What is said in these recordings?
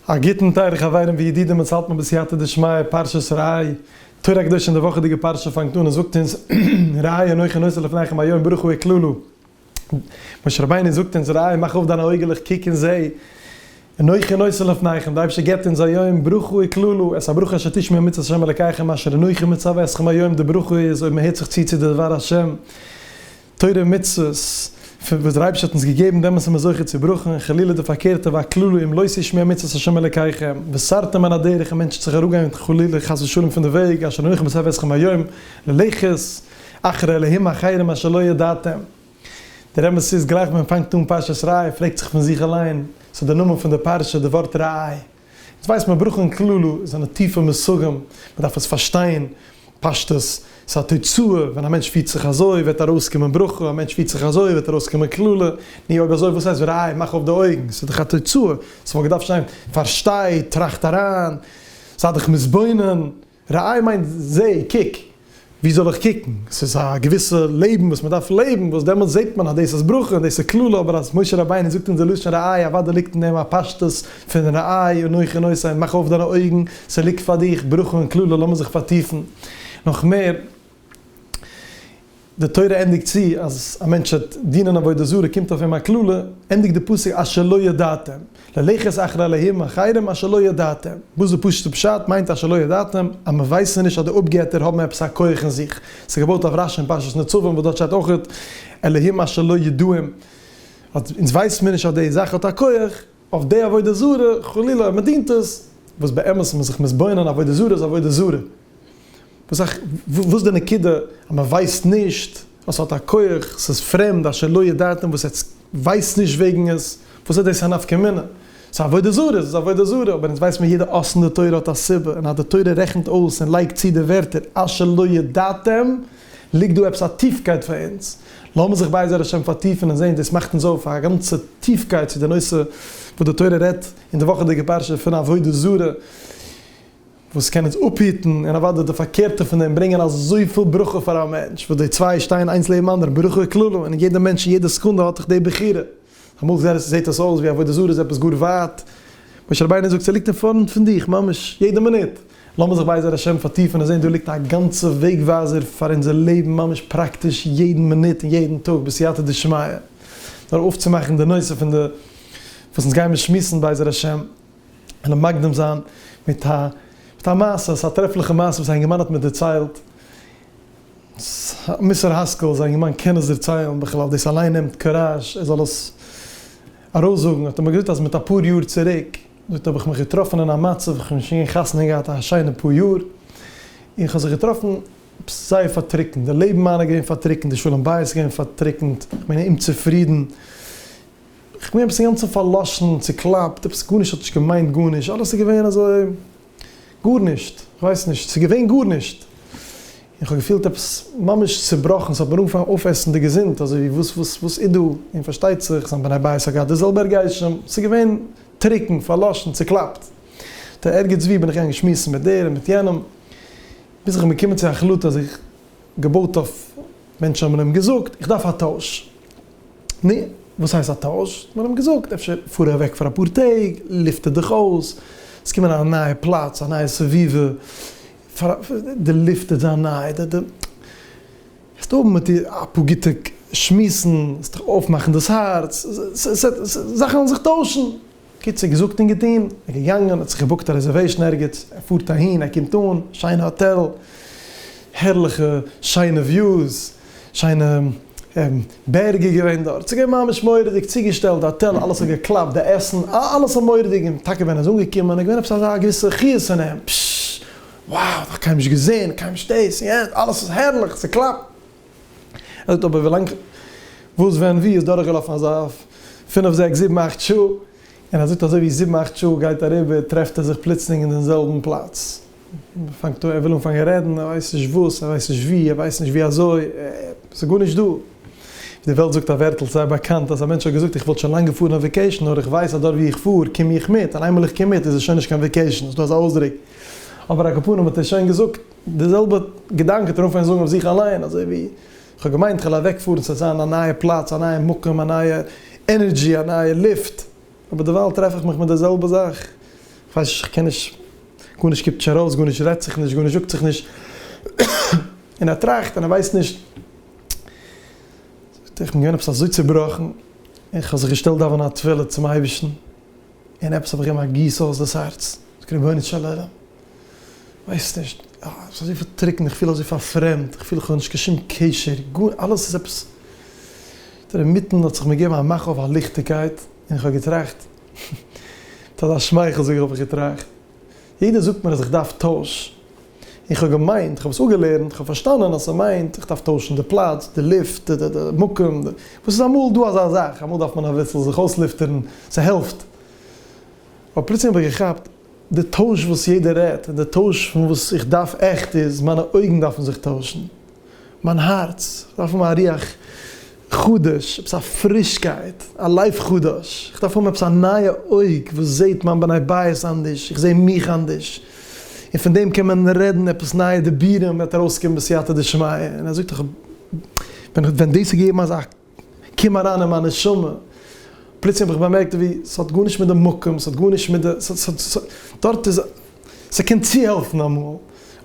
א גוטן טייערע חברים וידידים אונז האלט מען בסייעתא דשמיא פרשת ראה, תורה קדושה און די וואכעדיגע פרשה פאנגט אן און זאגט אונז ראה אנכי נושא לפניכם היום ברוך הוא אקללו משה רבינו זאגט אונז ראה מאך אויף דיינע אויגעלעך קוק און זעה אנכי נושא לפניכם די אייבשטער געבט אונז היום ברוך הוא אקללו עס א ברכה אשר תשמעו מצות השם אלקיכם אשר אנכי מצווה אתכם היום די ברכה איז אויב מען הערט זיך צו צו די דבר השם. תורה ומצוות, פון וואס דער אייבערשטער האט אונז געגעבן, דעמאלס איז מען זוכה צו ברכה, און חלילה די פארקערטע, והקללה, אם לא תשמעו את מצות השם אלקיכם, וסרתם מן הדרך, און מענטש וועט זיך אראפגיין חלילה חס ושלום פון די וועג, אשר אנכי מצוה אתכם היום, ללכת אחרי אלהים אחרים אשר לא ידעתם. דער אמת איז, גלייך ווען מען פאנגט אן פרשת ראה, פרעגט זיך פון זיך אליין, ס'איז דער נאמען פון די פרשה, די ווארט ראה, אונז ווייסט מען ברויך אין כללו זיינע טיפע מושגים, מען דארף עס פארשטיין פשטות, ס'איז א תוצאה, ווען א מענטש פירט זיך אזוי וועט ארויסקומען ברכה, א מענטש פירט זיך אזוי וועט ארויסקומען קללה, נו אויב אזוי וואס הייסט רייב מאך אויף די אויגן, ס'איז דאך א תוצאה, ס'וואלט געדארפט שטיין פארשטיי, טראכט אריין, זיי דיך מתבונן. ראי' מיינט זע, קוק. וואו זאל איך קוקן? ס'איז א געוויסע לעבן וואס מ'דארף לעבן, וואס דעמאלטס זעט מען אז דאס איז ברכה און דאס איז קללה, אבער אז משה רבינו זאגט אונז די לשון ראי', אוודאי ליגט אין דעם א פשטות פון ראי', אנוכי און עושי, מאך אויף דיינע אויגן, ס'ליגט פאר דיך ברכה און קללה, לאמיר זיך פארטיפן נאך מער. די תורה ענדיגט צו אז א מענטש וועט דינען עבודה זרה קומט אויף אים א קללה, ענדיגט די פסוק אז שלא ידעתם, ללכת אחר אלהים אחרים אז שלא ידעתם, וואס די פשוט'ע פשט מיינט אז שלא ידעתם, אז מען ווייסן נישט אז די אפגעטער האבן עפעס א כח אין זיך, ס'איז געבויט אויף רשי אין פרשת נצבים וואס דארט שטייט אויך אלהים אז שלא ידעים, אז אונז ווייסן מיר נישט אז די זאך האט א כח, אויף די עבודה זרה, חלילה, מען דינט עס, וואס באמת איז מען זיך מתבונן, עבודה זרה איז עבודה זרה, וואס איך, וואס איז די נקודה, אז מען ווייסט נישט, אז עס האט א כח, עס איז פרעמד, אשר לא ידעתם, וואס עטס ווייסט נישט וועגן עס, וואס איז דאס א נפקא מינה, עס איז עבודה זרה, איז עס עבודה זרה, אבער אונז ווייסט מען יעדע אות אין די תורה האט א סיבה, און אז די תורה רעכנט אויס און לייגט צו די ווערטער אשר לא ידעתם, ליגט דא עפעס א טיפקייט פאר אונז. לאמיר זיך בעזר השם פארטיפן און זען, דאס מאכט אונז אויף א גאנצע טיפקייט צו די נושא וואס די תורה רעדט אין די וואכעדיגע פרשה פון עבודה זרה, וואס קען אונז אפהיטן, און אוודאי די פארקערטע פון דעם, ברענגען אזויפיל ברכה פאר א מענטש, וואס די צוויי שטייען איינס לעבן אנדערן, ברכה כללא, און יעדע מענטש אין יעדע סעקונדע האט דאך די בחירה. אמאל זעהט עס אויס ווי עבודה זרה איז עפעס גאר ווייט, משה רבינו זאגט ס'ליגט אין פארנט פון דיך ממש יעדע מינוט, לאמיר זיך בעזר השם פארטיפן און זעהן דא ליגט א גאנצע וועג ווייזער פאר אונזער לעבן ממש פראקטיש יעדן מינוט און יעדן טאג בסייעתא דשמיא, נאר אויפצומאכן די נושא פון די וואס אונז גיימער שמועסן בעזר השם, און מקדים זיין מיט א מיט א מעשה, עס איז א טרעפליכע מעשה וואס א אינגערמאן האט מיר דערציילט, ס ה מיסטער האסקעל, זיין געמיינט קען עס דערציילן בכלל, דאס אליין נעמט קוראזש, ער זאל עס ארויסזאגן, האט ער מיר געזאגט אז מיט אפאר יאר צוריק, זאגט ער האב איך מיך געטראפן אין א מצב, איך האב שוין חתונה געהאט א שיינע פאר יאר, און איך האב זיך געטראפן עפעס זייער פארטריקנט, די לעבן מיינע איז געווען פארטריקנט, די שלום בית איז געווען פארטריקנט, איך בין אומצופרידן, איך בין עפעס אינגאנצן פארלאשן, צוקלאפט, עפעס גארנישט האט נישט געמיינט גארנישט, אלעס איז געווען אזוי. גארנישט, איך ווייס נישט, ס'איז געווען גארנישט, און כ'האב געפילט עפעס ממש צובראכן, ס'האט מיר אנגעפאנגען אויפעסן די געזונט, אזוי ווי וואס וואס וואס איז דא, און פארשטייט זיך זיין בני בית האט געהאט די זעלבע הרגשים, ס'איז געווען טרוקן, פארלאשן, צוקלאפט, ט א ערגעץ ווי בין איך געגאנגען שמועסן מיט דער און מיט יענעם, ביז איך בין געקומען צו א החלטה, זיך געבויט אויף, מענטשן האבן אים געזאגט, איך דארף א טויש, נו, וואס הייסט א טויש? האט מען אים געזאגט, אפשר פאר אוועק פאר אפאר טעג, לופטער דיך אויס, עס קומען א נייע פלאץ, א נייע סביבה, די לופט וועט זיין ניי, די די וועסט האבן מיט איר אפאר גוטע שמועסן, עס וועט זיך אויפמאכן דאס הארץ, זאכן וועלן זיך טוישן. קיצור געזאגט און געטון, ער איז געגאנגען, האט זיך געבוקט א רעזערוועישן ערגעץ, ער פארט אהין, ער קומט אן, שיינע האטעל, הערליכע שיינע וויוס, שיינע בערגער געווען דארט, ס'איז געווען ממש מורא'דיג, צוגעשטעלט די האטעל, אלעס האט געקלאפט, די עסן, אלעס א מורא'דיג, און טאקע ווען ער איז אנגעקומען, איז געווען עפעס אזא געוויסע חיות אין אים, פששש, wow, נאך קיינמאל נישט געזען, קיינמאל נישט דאס און יענץ, אלעס איז הערליך, ס'קלאפט. ער זאגט אבער ווילאנג וואס ווען ווי איז דורכגעלאפן אזא פינף זעקס זיבן אכט שעה, און ער זאגט אזוי ווי זיבן אכט שעה גייט אריבער טרעפט ער זיך פלוצלינג אין דעם זעלבן פלאץ, פאנגט אן ער וויל אנפאנגען רעדן, ער ווייסט נישט וואס, ער ווייסט נישט ווי, ער ווייסט נישט ווי אזוי, ס'איז גארנישט דא. די וועלט זאגט א ווערטל זייער באקאנט אז א מענטש האט געזאגט איך וואלט שוין לאנג געפארן אויף וועקעישן נאר איך ווייס אז דארט ווי איך פאר קום איך מיט, און איינמאל איך קום מיט איז עס שוין נישט קיין וועקעישן, ס'איז דא אזא אויסדרוק אבער א קאפאנעם האט עס שוין געזאגט. די זעלבע געדאנק טרעף איך זאגן אויף זיך אליין, אזוי ווי איך האב געמיינט כ'על אוועק פארן ס'עט זיין א נייע פלאץ, א נייע מקום, א נייע ענערדזשי, א נייע לופט, אבער דערווייל טרעף איך מיך מיט די זעלבע זאך, כ'ווייס נישט, כ'קען נישט, גארנישט קומט נישט ארויס, גארנישט רעדט זיך נישט, גארנישט זאגט זיך נישט, און ער טראכט און ער ווייסט נישט, זאגט ער איך בין געווען עפעס אזוי צובראכן, און כ'האב זיך געשטעלט דאווענען א תפלה צום אייבערשטן, און עפעס האב איך געגעבן א גיס אויס דאס הארץ, זאגט רבונו של עולם, ווייסט נישט, עס איז אזויפיל טרוקן, איך פיל אזוי פארפרעמדט, איך פיל איך האב נישט קיין שום קשר, גאר, אלעס איז עפעס, דער מיטן האט זיך מיר געגעבן א מאך אויף א ליכטיגקייט, און איך האב געטראכט, מיט אזא שמייכל זאג איך האב איך געטראכט, יעדער זאגט מיר אז איך דארף טויש, איך האב געמיינט, איך האב עס אפגעלערנט, איך האב פארשטאנען אז ס'מיינט איך דארף טוישן די פלאץ, די לופט, די די מקום, וואס איז אמאל דא אזא זאך, אמאל דארף מען אביסל זיך אויסלופטערן, ס'העלפט. אבער פלוצלינג האב איך געכאפט, די טויש וואס יעדער רעדט, און די טויש פון וואס איך דארף עכט איז, מיינע אויגן דארפן זיך טוישן. מיין הארץ דארף האבן א רוח חדש, עפעס א פרישקייט, א לייף חדש, איך דארף האבן עפעס א נייע אויג וואס זעט מיין בני בית אנדערש, איך זע מיך אנדערש, און פון דעם קען מען רעדן עפעס נייע דיבורים וועט ארויסקומען בסייעתא דשמיא, און ער זאגט דאך ווען דאס איז געגעבן אזא קום אריין אין מיין נשמה, פלוצלינג האב איך באמערקט ווי ס'האט גארנישט מיט די מקום, ס'האט גארנישט מיט די, ס'האט, דארט איז, ס'קען צוהעלפן אמאל,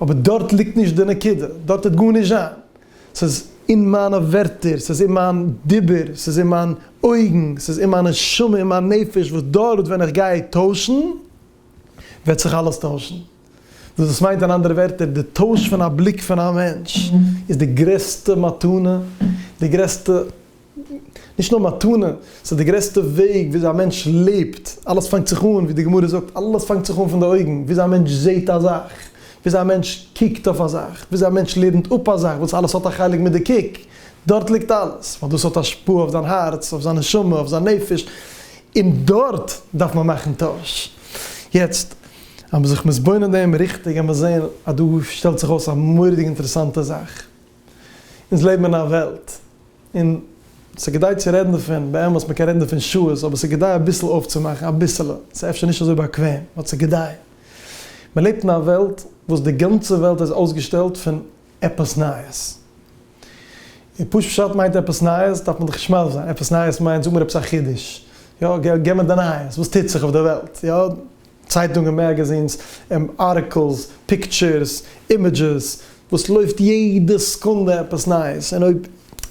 אבער דארט ליגט נישט די נקודה, דארט וועט גארנישט זיין, ס'איז אין מיינע ווערטער, ס'איז אין מיין דיבור, ס'איז אין מיין אויגן, ס'איז אין מיין נשמה, אין מיין נפש, וואס דארט ווען איך גיי טוישן, וועט זיך אלעס טוישן. וואס דאס מיינט אין אנדערע ווערטער, די טויש פון א בליק פון א מענטש איז די גרעסטע מתנה, די גרעסטע, נישט נאר מתנה, ס'איז די גרעסטע וועג וויאזוי א מענטש לעבט, אלעס פאנגט זיך אן, ווי די גמרא זאגט, אלעס פאנגט זיך אן פון די אויגן, וויאזוי א מענטש זעט א זאך, וויאזוי א מענטש קוקט אויף א זאך, וויאזוי א מענטש לערנט אפ א זאך, וואס אלעס האט א חלק מיט די קוק, דארט ליגט אלעס, ווייל דאס האט השפעה אויף זיין הארץ, אויף זיין נשמה, אויף זיין נפש, און דארט דארף מען מאכן טויש. יעצט, אז מ'איז זיך מתבונן אין דעם ריכטיג וועט מען זען אז דא שטעלט זיך אויס א מורא'דיג אינטערעסאנטע זאך. אונז לעבן אין א וועלט, און ס'איז כדאי צו רעדן דערפון, באמת מ'קען רעדן דערפון שעות, אבער ס'איז כדאי אביסל אויפצומאכן, אביסעלע, ס'איז אפשר נישט אזוי באקוועם, באט ס'איז כדאי. מ'לעבט אין א וועלט וואס די גאנצע וועלט איז אויסגעשטעלט פון עפעס נייעס? און פשוט פשט מיינט עפעס נייעס דארף מען דאך נישט מסביר זיין, עפעס נייעס מיינט זאג מיר עפעס א חידוש, יא, גיב מיר די נייעס, וואס טוט זיך אויף די וועלט, יא, צייטונגען, מעגעזינס, ארטיקלס, פיקטשערס, אימעדזשעס, וואס לויפט יעדע סעקונדע עפעס נייעס, און אויב,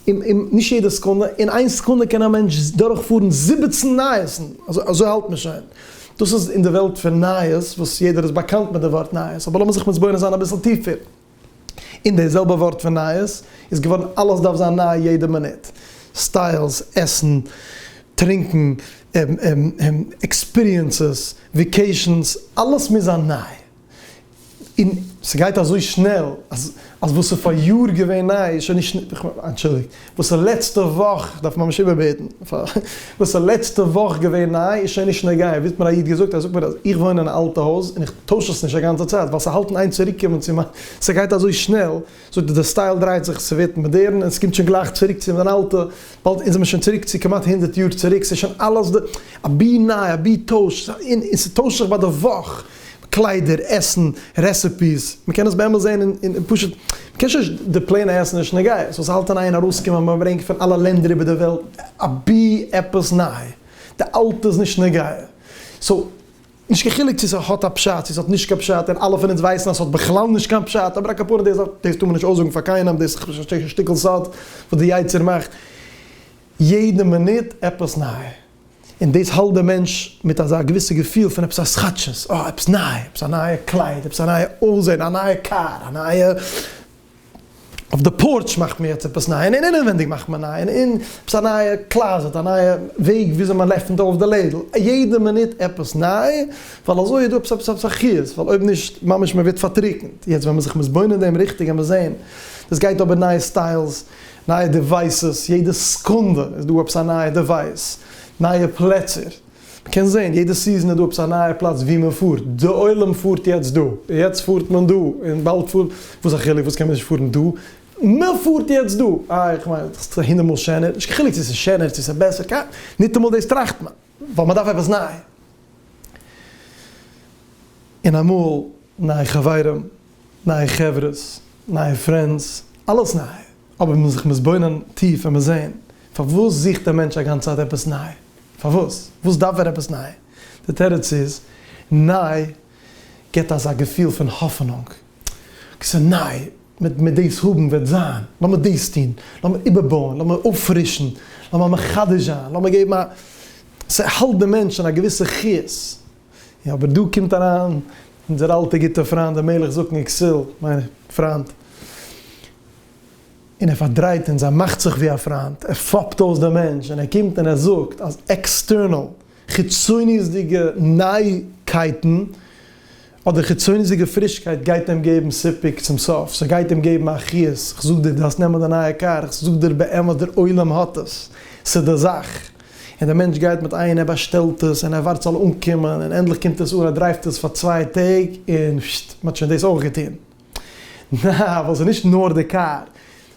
און נישט יעדע סעקונדע, אין איין סעקונדע קען א מענטש דורכפארן זיבעצן נייעסן, אזוי האלט מען שוין, דאס איז אין די וועלט פון נייעס, וואס יעדער איז באקאנט מיט די ווארט נייעס, אבער לאמיר זיך מתבונן זיין אביסל טיפער. און די זעלבע ווארט פון נייעס איז געווארן אלעס דארף זיין ניי יעדע מינוט, סטיילס, עסן, טרינקן, עקספיריענסעס, וויקעישאנס, אלעס מוז זיין ניי, און ס'גייט אזוי שנעל אז וואס איז פאריאר געווען ניי איז שוין נישט, אנטשולדיגט, וואס איז לעצטע וואך, איך דארף ממש איבערבעטן, וואס איז לעצטע וואך געווען ניי איז שוין נישט נוגע, ווי האט מיר א איד געזאגט, ער זאגט מיר אז איך וואוין אין א אלטע הויז און איך טויש עס נישט א גאנצע צייט ווייל ס'האלט אין איין צוריק קומען צו מיין, ס'גייט אזוי שנעל, זאגט ער די סטייל דרייט זיך, ס'ווערט מאדערן און ס'קומט שוין גלייך צוריק צו מיין אלטע, באלד אונז זעמיר שוין צוריק צו כמעט הונדערט יאר צוריק, ס'איז שוין אלעס די אבי ניי אבי טויש, און ס'טוישט זיך ביי די וואך. קליידער, עסן, רעסעפיס, מען קען עס באמת זען אין פשוט, מען קען שוין די פלעינע עסן אין שנגעיס, וואס האלט אין איין ארויסקומען מען ברענגט פון אלע לענדער איבער די וועלט, אבי עפעס ניי, די אלטע איז נישט נוגע, סאו נישט קיין חילוק צו ס'האט א פשט צו ס'האט נישט קיין פשט, און אלע פון אונז ווייסן אז ס'האט בכלל נישט קיין פשט, אבער א כפרה די זאך, דאס טאר מען נישט אויסזאגן פאר קיינעם, דאס איז א שטיקל סוד וואס די יצר מאכט יעדע מינוט עפעס ניי. און דאס האלט דעם מענטש מיט אזא געוויסע געפיל פון עפעס א סכאטשעס, אה, עפעס ניי, עפעס א נייע קלייד, עפעס א נייע אויסזען, א נייע קאר, א נייע, אויף די פארטש מאכט מען יעצט עפעס ניי, און אינעווייניג מאכט מען ניי, און עפעס א נייע קלאזעט, א נייע וועג וויאזוי מען עפענט אויף די לעדל, יעדע מינוט עפעס ניי, ווייל אזוי איז דא עפעס עפעס עפעס א חיות, ווייל אויב נישט, ממש מען ווערט פארטריקנט. יעצט ווען מען זיך מתבונן דעם ריכטיג, העמער זען, דאס גייט אבער נייע סטיילס, נייע דעווייסעס, יעדע סעקונדע איז דא עפעס א נייע דעווייס, נייע פלעצער, מען קען זען יעדע סיזען איז דא עפעס א נייע פלאץ ווי מען פארט, די עולם פארט יעצט דא, יעצט פארט מען דא, און באלד פארט, וואס א חילוק וואס קען מען נישט פארן דא, מען פארט יעצט דא, אה איך מיין דאך ס'איז הונדערט מאל שענער, נישט קיין חילוק צו ס'איז שענער צו ס'איז בעסער, קיין, ניטאמאל דאס טראכט מען, ווייל מען דארף עפעס ניי, און אמאל. נייע חברים, נייע חברות, נייע פרענדס, אלעס ניי, אבער מען מוז זיך מתבונן טיף און מוז זען, פארוואס זוכט דער מענטש א גאנצע צייט עפעס ניי? פארוואס? וואס דארף ער עפעס ניי? די תירוץ איז, ניי גיבט אזא געפיל פון האפענונג, אקעי ס'איז ניי, מען מען דאס האבן וועט זיין, לאמיר דאס טון, לאמיר איבערבויען, לאמיר אויפפרישן, לאמיר מחדש זיין, לאמיר געבן א, ס'האלט דעם מענטש אין א געוויסע חיות. יא אבער דא קומט אריין אונזער אלטע גוטע פריינט דער מלך זקן איקסיל, מיין פריינט, און ער פארדרייט אונז, ער מאכט זיך ווי א פריינט, ער פאפט אויס דעם מענטש, און ער קומט און ער זאגט אז עקסטערנעל, חיצוניות'דיגע נייעקייטן, אדער חיצוניות'דיגע פרישקייט גייט אים געבן סיפוק צום סוף, ס'גייט אים געבן א חיות, איך זאג דיר דו האסט נעמען די נייע קאר, איך זאג דיר באמת דער עולם האט עס, ס'איז די זאך. און דער מענטש גייט מיט איין ער באשטעלט עס און ער ווארט ס'זאל אנקומען און ענדליך קומט עס אן ער דרייווט עס פאר צוויי טעג און פששט מען האט שוין דאס אויך געטון נע ווייל ס'איז נישט נאר די קאר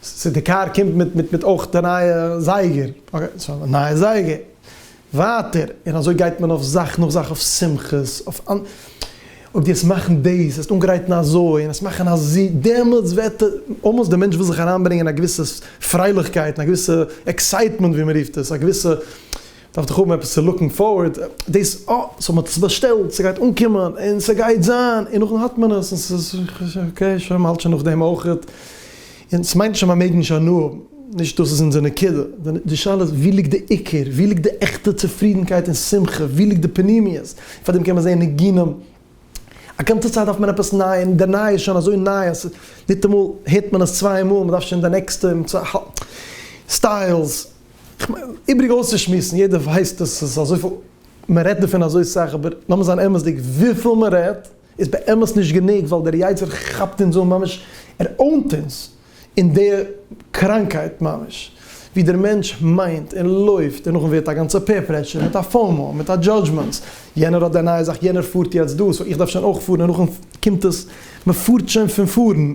ס'איז די קאר קומט מיט מיט מיט אויך די נייע זייגער אקעי סאו א נייע זייגער ווייטער און אזוי גייט מען אויף זאך נאך זאך אויף שמחות אויף אויב דו וועסט מאכן דאס, וועסט אנגרייטן אזוי, און וועסט מאכן אזו, דעמאלטס וועט אלמאסט דער מענטש וויל זיך אריינברענגען א געוויסע פרייליכקייט, א געוויסע עקסייטמענט ווי מען רופט עס, א געוויסע, דארף דאך האבן עפעס צו לוקן פארווערד, דאס, אה, סאו מען האט עס באשטעלט, ס'גייט אנקומען, און ס'גייט זיין, און נאכדעם האט מען עס, און ס'איז, אקעי, שוין, מ'האלט שוין נאכדעם אויכעט. און סמיינט נישט אז מ'מעג נישט הנאה האבן, נישט דאס איז אונזער נקודה, די שאלה איז ווי ליגט די עיקר, ווי ליגט די עכטע צופרידנקייט און שמחה, ווי ליגט די פנימיות, פאר דעם קען מען זען ניגונים, א גאנצע צייט דארף מען עפעס ניי, און די ניי איז שוין אזוי ניי אז ניטאמאל הערט מען עס צוויי מאל, מ'דארף שוין די נעקסטע, סטיילס, איבריג אויסצושמועסן, יעדער ווייסט אז ס'איז אזויפיל, מ'רעדט דערפון אזוי סאך, אבער לאמיר זיין אמת'דיג, וויפיל מ'רעדט, איז באמת נישט גענוג ווייל דער יצה ר כאפט אונז אן ממש ער אונט אונז אין די קראנקייט ממש ווי דער מענטש מיינט און לויפט און נאכדעם ווערט א גאנצע פער פרעשור מיט א פאומו מיט א דזשאדזשמענטס יענער האט די נייע זאך יענער פארט יעצט דא סאו איך דארף שוין אויך פארן און נאכדעם קומט עס מען פארט שוין פון פארן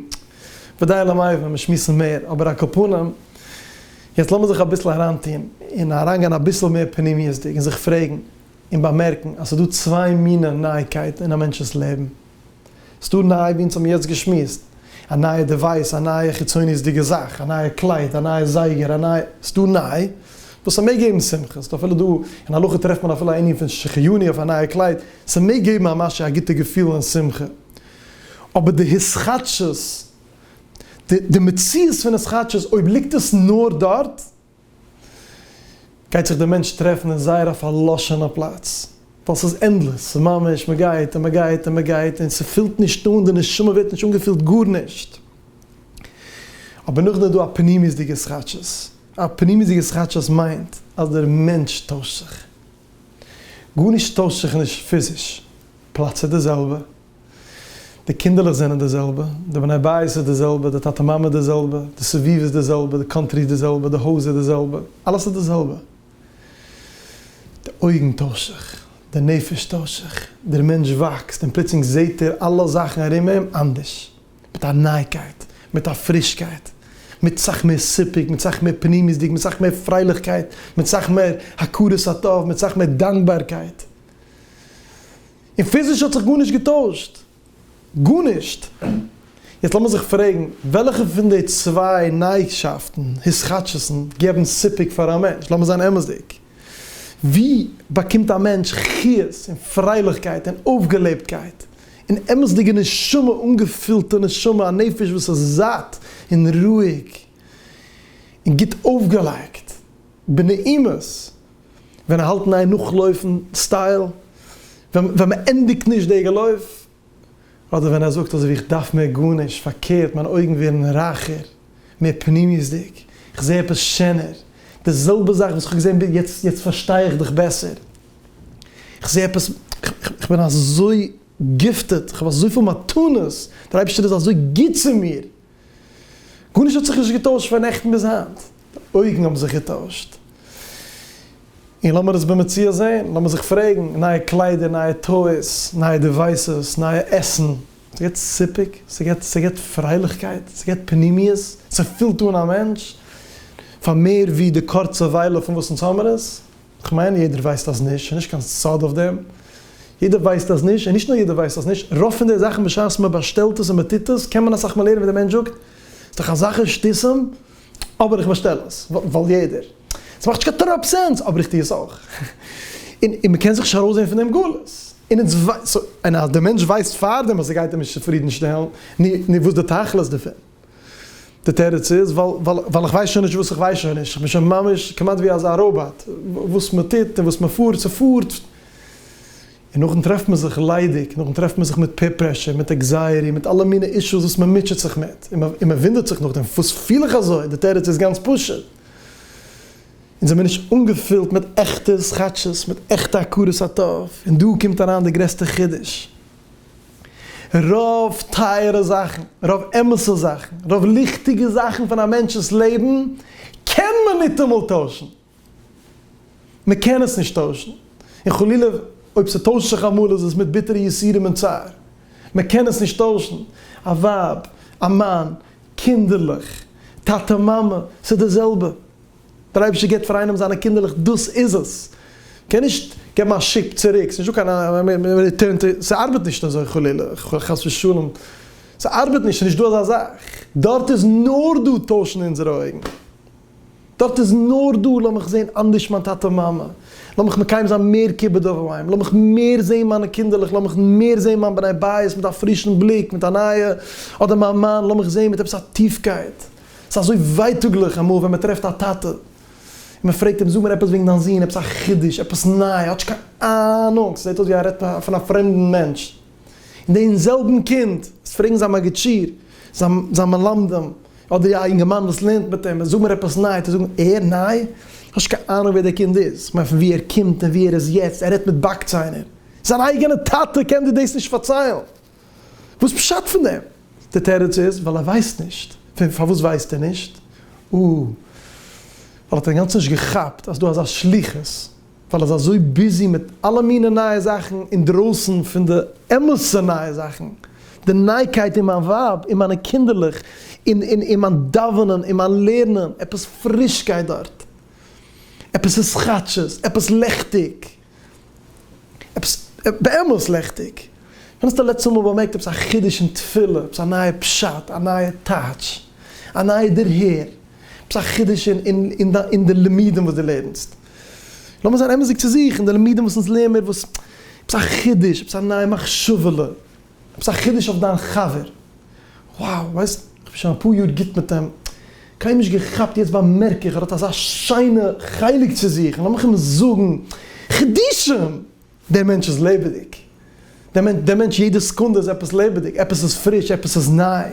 ודי למאי ווען מיר שמועסן מער אבער אקאפנים יעצט לאמיר זיך אביסל אריינטון און אריינגיין אביסל מער פנימיות'דיג און זיך פרעגן. און באמערקן אז ס'איז דא צוויי מינע נייעקייטן אין א מענטש'ס לעבן. ס'איז דא ניי ווי אונז האבן יעצט געשמועסט, א נייע דעווייס, א נייע חיצוניות'דיגע זאך, א נייע קלייד, א נייע זייגער, א נייע. ס'איז דא ניי וואס ס'מעג געבן שמחה, ס'איז אפילו דא, אין הלכה טרעפט מען אפילו א ענין פון שכיוני אויף א נייע קלייד, ס'מעג געבן א משהו א גוטע געפיל און שמחה. אבער די התחדשות, די מציאות פון התחדשות, אויב ליגט עס נאר דארט, גייט זיך דער מענטש טרעפן אין זייער א פארלאשענע פלאץ, ווייל ס'איז ענדלעס, ס'איז ממש מען גייט און מען גייט און מען גייט און ס'פילט נישט אן, די נשמה ווערט נישט אנגעפילט גארנישט. אבער נאכדעם איז דא א פנימיות'דיגע שחטשות, א פנימיות'דיגע שחטשות מיינט אז דער מענטש טוישט זיך, גארנישט טוישט זיך נישט פיזיש, פלאץ איז די זעלבע, די קינדערלעך זענען די זעלבע, די בני בית איז די זעלבע, די טאטע מאמע איז די זעלבע, די סביבה איז די זעלבע, די קאנטרי איז די זעלבע, די הויז איז די זעלבע, אלעס איז די זעלבע. די אויגן טוישט זיך, די נפש טוישט זיך, דער מענטש וואקסט און פלוצלינג זעט ער אלע זאכן ארום אים אנדערש, מיט א נייגקייט, מיט א פרישקייט, מיט סאך מער סיפוק, מיט סאך מער פנימיות'דיג, מיט סאך מער פרייליכקייט, מיט סאך מער הכרת הטוב, מיט סאך מער דאנקבארקייט. און פיזיש האט זיך גארנישט געטוישט. גארנישט. יעצט לאמיר זיך פרעגן, וועלכע פון די צוויי נייגשאפטן, התחדשות'ן, געבן סיפוק פאר א מענטש? לאמיר זיין אמת'דיג. ווי באקומט א מענטש חיות און פרייליכקייט און אויפגעלעבטקייט, און אמת'דיגע נשמה, אנגעפילטע נשמה, א נפש וואס איז זאט און רואיג און גוט אויפגעלייגט? בנעימות ווען ער האלט ניין נאכלויפן סטייל ווען מען ענדיגט נישט די געלויף אדער ווען ער זאגט אזויווי איך דארף מער גארנישט פארקערט מיין אויגן ווערן רייכער מער פנימיות'דיג איך זעה עפעס שענער די זעלבע זאך וואס איך האב געזען ביז יעצט יעצט פארשטיי איך דיך בעסער איך זעה עפעס איך בין אזוי גיפטעד איך האב אזויפיל מתנות דער אייבערשטער איז אזוי גוט צו מיר. גארנישט האט זיך נישט געטוישט פון נעכטן ביז היינט, אויגן האבן זיך געטוישט, און לאמיר עס במציאות זען, לאמיר זיך פרעגן, נייע קליידער, נייע טויס, נייע דיווייסעס, נייע עסן, ס'געט סיפוק? ס'געט ס'געט פרייליכקייט? ס'געט פנימיות? ס'פילט אן א מענטש פאר מער ווי די קורצע וויילע פון וואס אונז האמיר עס? כ'מיין יעדער ווייסט אז נישט, ס'נישט קיין סוד אויף דעם, יעדער ווייסט אז נישט, און נישט נאר יעדער ווייסט אז נישט, רוב פון די זאכן בשעת מען באשטעלט עס און מען טוט עס קען מען אסאך מער לערנען ווי דער מענטש זאגט, ס'איז דאך אזאך אין שטותים, אבער איך באשטעל עס ווייל יעדער, ס'מאכט נישט קיין טראפ סענס אבער איך טו עס אויך, און און מען קען זיך נישט ארויסזען פון דעם גלות, און אונז ווייסט, און אז דער מענטש ווייסט פארדעם אז ס'גייט אים נישט צופרידנשטעלן, נו וואס איז די תכלית דערפון? די תירוץ איז ווייל איך ווייס שוין נישט וואס איך ווייס שוין נישט, איך בין שוין ממש כמעט ווי אזא ראבאט, וואס מען טוט און וואס מען פארט, ס'פארט, און נאכדעם טרעפט מען זיך ליידיג, נאכדעם טרעפט מען זיך מיט פעיר פרעשור, מיט עקזייעטי, מיט אלע מיני אישוס וואס מען מוטשעט זיך מיט, און מען וואונדערט זיך נאכדעם פארוואס פיל איך אזוי, די תירוץ איז גאנץ פשוט, אונז זעמיר נישט אנגעפילט מיט עכטע סכאטשעס, מיט עכטע הכרת הטוב, און דא קומט אריין די גרעסטע חידוש. רוב טייערע זאכן, רוב אמת'ע זאכן, רוב ליכטיגע זאכן פון א מענטש'ס לעבן קען מען ניטאמאל טוישן. מען קען עס נישט טוישן, און חלילה אויב ס'טוישט זיך אמאל איז עס מיט ביטערע יסורים און צער. מען קען עס נישט טוישן, א ווייב, א מאן, קינדערלעך, טאטע מאמע, ס'איז די זעלבע. דער אייבערשטער גיבט פאר איינעם זיינע קינדערלעך דאס איז עס, קען נישט געבן א שיפ צוריק, ס'איז נישטא קיין ריטורן טי, ס'ארבעט נישט אזוי חלילה, חס ושלום, ס'ארבעט נישט, ס'נישט דא אזא זאך, דארט איז נאר דא טוישן אונזערע אויגן, דארט איז נאר דא לאמיך זען אנדערש מיין טאטע מאמע, לאמיך מקיים זיין מער כיבוד אב ואם, לאמיך מער זען מיינע קינדערלעך, לאמיך מער זען מיין בני בית מיט א פרישן בליק, מיט א נייע, אדער מיין מאן, לאמיך זען מיט עפעס א טיפקייט. ס'איז אזוי ווייטאגליך אמאל ווען מ'טרעפט א טאטע און מ'פרעגט אים, זאג מיר עפעס וועגן דיין זון, עפעס א חידוש, עפעס ניי, האט נישט קיין אהנונג, ס'זעט אויס ווי ער רעדט פון א פרעמדן מענטש. און דעם זעלבן קינד וועסט פרעגן זיין מגיד שיעור, זיין מלמדים, אדער א אינגערמאן וואס לערנט מיט אים, זאג מיר עפעס ניי, וועט ער זאגן, ער? ניי? האט נישט קיין אהנונג ווער דער קינד איז, כ'מיין פון וואו ער קומט און וואו ער איז יעצט, ער רעדט מיט באקציינער. זיין אייגענע טאטע קען דיר דאס נישט פארציילן. וואס פשט פון דעם? די תירוץ איז ווייל ער ווייסט נישט. פון פארוואס ווייסט ער נישט? או! ווייל ער האט אינגאנצן נישט געכאפט אז דא אזא שליחות, ווייל ער איז אזוי ביזי מיט אלע מיני נייע זאכן אינדרויסן פון די אמת'ע נייע זאכן, די נייקייט אין מיין ווייב, אין מיינע קינדערלעך, אין אין מיין דאווענען, אין מיין לערנען, עפעס פרישקייט דארט, עפעס איז כאטשיס, עפעס לעכטיג. עפעס באמת לעכטיג. ווען האסטו לעצטע מאל באמערקט עפעס א חידוש אין תפילה, עפעס א נייע פשט, א נייע טייטש, א נייע דערהער, עפעס א חידוש אין די לימודים וואס דו לערנסט? לאמיר זיין אמת'דיג צו זיך, אין די לימודים וואס אונז לערן מיר, עפעס א חידוש, עפעס א נייע מחשבה'לע, עפעס א חידוש אויף דיין חבר, וואו! ווייסט, איך בין שוין אפאר יאר גוט מיט אים, קיינמאל נישט געכאפט, יעצט באמערק איך, ער האט אזא שיינע חלק צו זיך, און לאמיך אים זאגן, חידושים! דער מענטש איז לעבעדיג, דער מענטש יעדע סעקונדע איז עפעס לעבעדיג, עפעס איז פריש, עפעס איז ניי,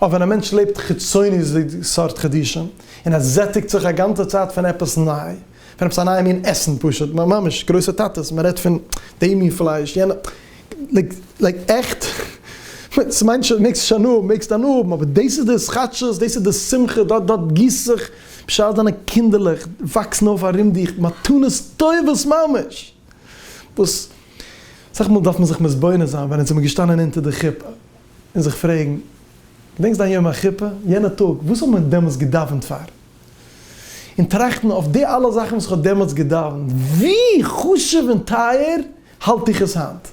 אויב ווען א מענטש לעבט חיצוניות'דיג סארט חידושים, און ער זעטיגט זיך א גאנצע צייט פון עפעס ניי, פון עפעס א נייע מין עסן פשוט, ממש גרויסע טאטעס, מען רעדט פון די מין פלייש, יענע, לייק עכט, ס'מיינט שוין מעגסט שוין האבן, מעגסט דאן האבן, אבער דאס איז די התחדשות, דאס איז די שמחה, דארט דארט גיסט זיך, בשעת דיינע קינדערלעך וואקסן אויף ארום דיך, מתנות טובות ממש, וואס אסאך מאל דארף מען זיך מתבונן זיין ווען אונז זעמער געשטאנען אונטער די חופה, און זיך פרעגן, געדענקסט דיין יום החופה, יענע טאג, וואס האבן מיר דעמאלס געדאווענט פאר? און טראכטן אויף די אלע זאכן וואס איך האב דעמאלטס געדאוונט, ווי חשוב און טייער האלט איך עס היינט?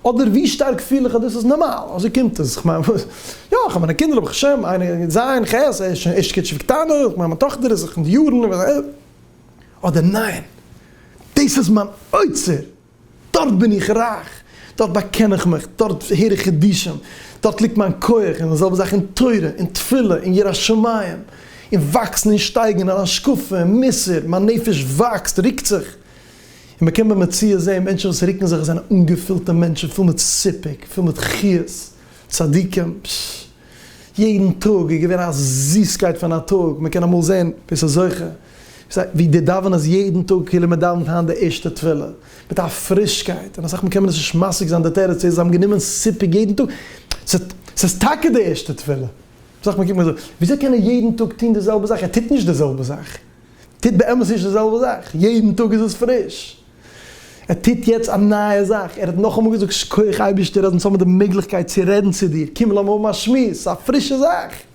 אדער ווי שטארק פיל איך אז דאס איז נארמאל, אזוי קומט עס, כ'מיין וואס? יא, איך האב מיינע קינדער, ברוך השם, איינער אין ז', ח', ער איז שוין ערשט כיתה קטנה, איך מיין מיין טאכטער איז זיך אין די יארן, אדער ניין, דאס איז מיין אוצר! דארט בין איך רייך, דארט באקען איך מיך, דארט הער איך חידושים, דארט ליגט מיין כח, און די זעלבע זאך אין תורה, אין תפילה, אין יראת שמים, אין וואקסן און שטייגן אין השקפה און מוסר, מיין נפש וואקסט, רוקט זיך, און מ'קען במציאות זען מענטשן וואס רוקן זיך, עס זענען אנגעפילטע מענטשן, פול מיט סיפוק, פול מיט חיות, צדיקים, יעדן טאג איז געווען א זיסקייט פון א טאג, מ'קען אמאל זען ווער ס'איז זוכה. זיי ווי די דאווענען אז יעדן טאג כאילו מען דאווענט היינט די ערשטע תפילה, מיט א פרישקייט, און אסאך מאל קען מען עס נישט משיג זיין די תירוץ איז זיי האבן גענומען סיפוק יעדן טאג, ס'איז טאקע די ערשטע תפילה, אסאך מאל קוקט מען אזוי, וויאזוי קען ער יעדן טאג טון די זעלבע זאך, ער טוט נישט די זעלבע זאך, ער טוט באמת נישט די זעלבע זאך, יעדן טאג איז עס פריש, ער טוט יעצט א נייע זאך, ער האט נאכאמאל געזאגט שקויעך אייבערשטער אז אונז האבן די מעגליכקייט צו רעדן צו דיר, קום לאמיר האבן א שמועס, ס'איז א פרישע זאך.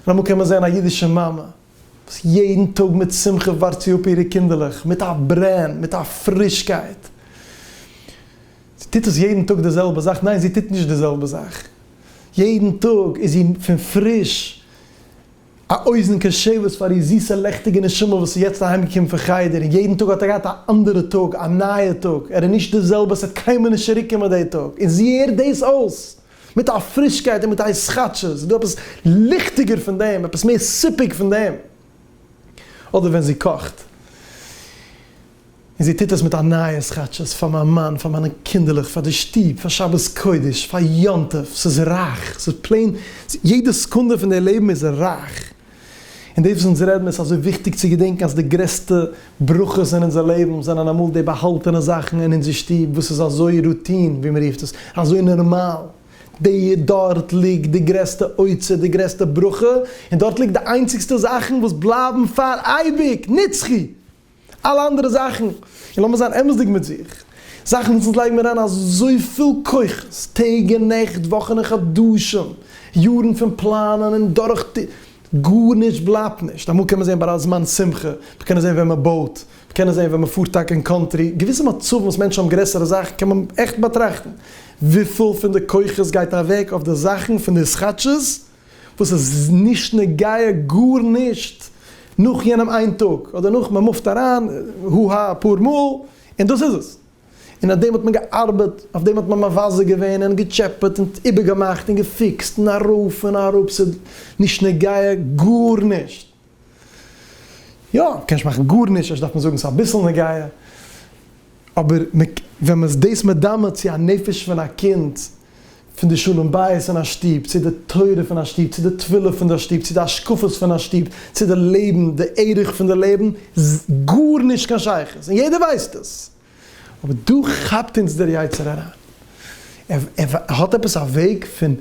לאמור קען מען זען א אידישע מאמע וואס יעדן טאג מיט שמחה ווארט זי אפ אירע קינדערלעך מיט א ברען, מיט א פרישקייט. זי טוט עס יעדן טאג די זעלבע זאך? ניין, זי טוט נישט די זעלבע זאך. יעדן טאג איז זי פון פריש א אוזן קשבת פאר איר זיסע לעכטיגע נשמה וואס איז יעצט אהיימגעקומען פון חדר, און יעדן טאג האט ער געהאט א אנדערע טאג, א נייע טאג, ער איז נישט די זעלבע, עס וועט קיינמאל נישט צוריקקומען די טאג, און זי הערט דאס אויס. מיט א פרישקייט און מיט א התחדשות, איז דא עפעס ליכטיגער פון דעם? עפעס מער סיפוק פון דעם? אדער ווען זי קאכט, און זי טוט עס מיט א נייע התחדשות, פאר מיין מאן, פאר מיינע קינדערלעך, פאר די שטוב, פאר שבת קודש, פאר יום טוב, ס'איז רייך, ס'איז פלעין, יעדע סעקונדע פון די לעבן איז רייך. און דאס וואס אונז רעדן איז אזוי וויכטיג צו געדענקן אז די גרעסטע ברכות אין אונזער לעבן זענען אמאל די באהאלטענע זאכן אין אונזער שטוב וואס איז אזוי רוטין ווי מ'רופט עס, אזוי נארמאל. די דארט ליגט די גרעסטע אוצר, די גרעסטע ברכה, און דארט ליגט די איינציגסטע זאכן וואס בלייבן פאר אייביג נצחי! אלע אנדערע זאכן, און לאמיר זיין אמת'דיג מיט זיך, זאכן וואס אונז לייגן מיר אריין אזויפיל כוחות, טעג און נעכט, וואכן און חדשים, יארן פון פלאנען און דורך טו. גארנישט בלייבט נישט. אמאל קען מען זען ביי א זמן שמחה, מיר קענען זען ווען מען בויט, מיר קענען זען ווען מען פארט טאקע אין קאנטרי, געוויסע מצבים וואס מענטשן האבן גרעסערע זאכן קען מען עכט באטראכטן. וויפיל פון די כוחות גייט אוועק אויף די זאכן פון די סכאטשעס? וואס עס איז נישט נוגע גארנישט נאך יענעם איין טאג אדער נאך מען מופט אריין הו הא אפאר מאל און דאס איז עס און אויף דעם האט מען געארבעט אויף דעם האט מען מבזה געווען און געטשעפעט און איבערגעמאכט און געפיקסט און ארויף און אראפ ס'איז נישט נוגע גארנישט. יא, קען נישט מאכן גארנישט, אפשר דארף מען זאגן ס'איז אביסל נגיעה, אבער ווען מ'איז דאס מדמה צו א נפש פון א קינד, פון די שלום בית אין א שטוב, צו די תורה פון א שטוב, צו די תפילה פון די שטוב, צו די השקפות פון א שטוב, צו די לעבן, די ערך פון די לעבן, גארנישט קיין שייכות, און יעדער ווייסט עס. אבער דא כאפט אונז דער יצר הרע, ער ער האט עפעס א וועג פון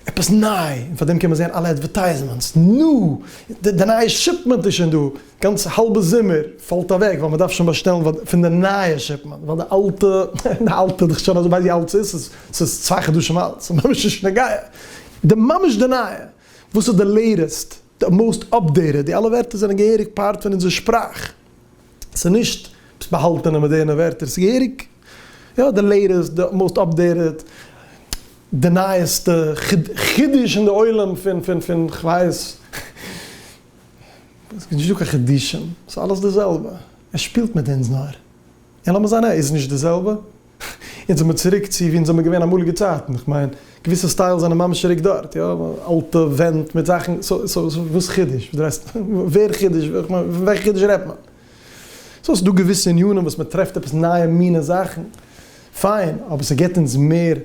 עפעס ניי, און פאר דעם קען מען זען אלע עדווערטייזמענטס, נו! די נייע שיפמענט איז שוין דא, גאנץ האלבע זומער פאלט אוועק ווייל מ'דארף שוין באשטעלן פון די נייע שיפמענט, ווייל די אלטע, די אלטע איז דאך שוין אזוי ווייט ווי אלץ איז, ס'איז צוויי חדשים אלט, ס'איז ממש נישט נוגע, די ממש די נייע, וואס איז די לעיטעסט? די מאסט אפדעיטעד, די אלע ווערטער זענען געהעריג פארט פון אונזער שפראך, ס'איז נישט עפעס באהאלטענע מאדערנע ווערטער, ס'איז געהעריג יא די לעיטעסט, די מאסט אפדעיטעד, די נייעסטע חידוש אין די עולם פון פון פון כ'ווייס נישט, ס'איז נישטא קיין חידושים, ס'איז אלעס די זעלבע, ער שפילט מיט אונז נאר, און לאמיר זיין ער איז נישט די זעלבע. יעצט זעמיר צוריק צו וואו אונז זעמיר געווען אמאליגע צייטן, איך מיין געוויסע סטיילס זענען ממש צוריק דארט, יא, אלטע ווענט מיט זאכן, סאו סאו וואס חידוש? ווער חידוש? איך מיין פון וועלכע חידוש רעדט מען? סאו ס'דא געוויסע עניינים וואס מען טרעפט עפעס נייע מינע זאכן, פיין, אבער ס'געבט אונז מער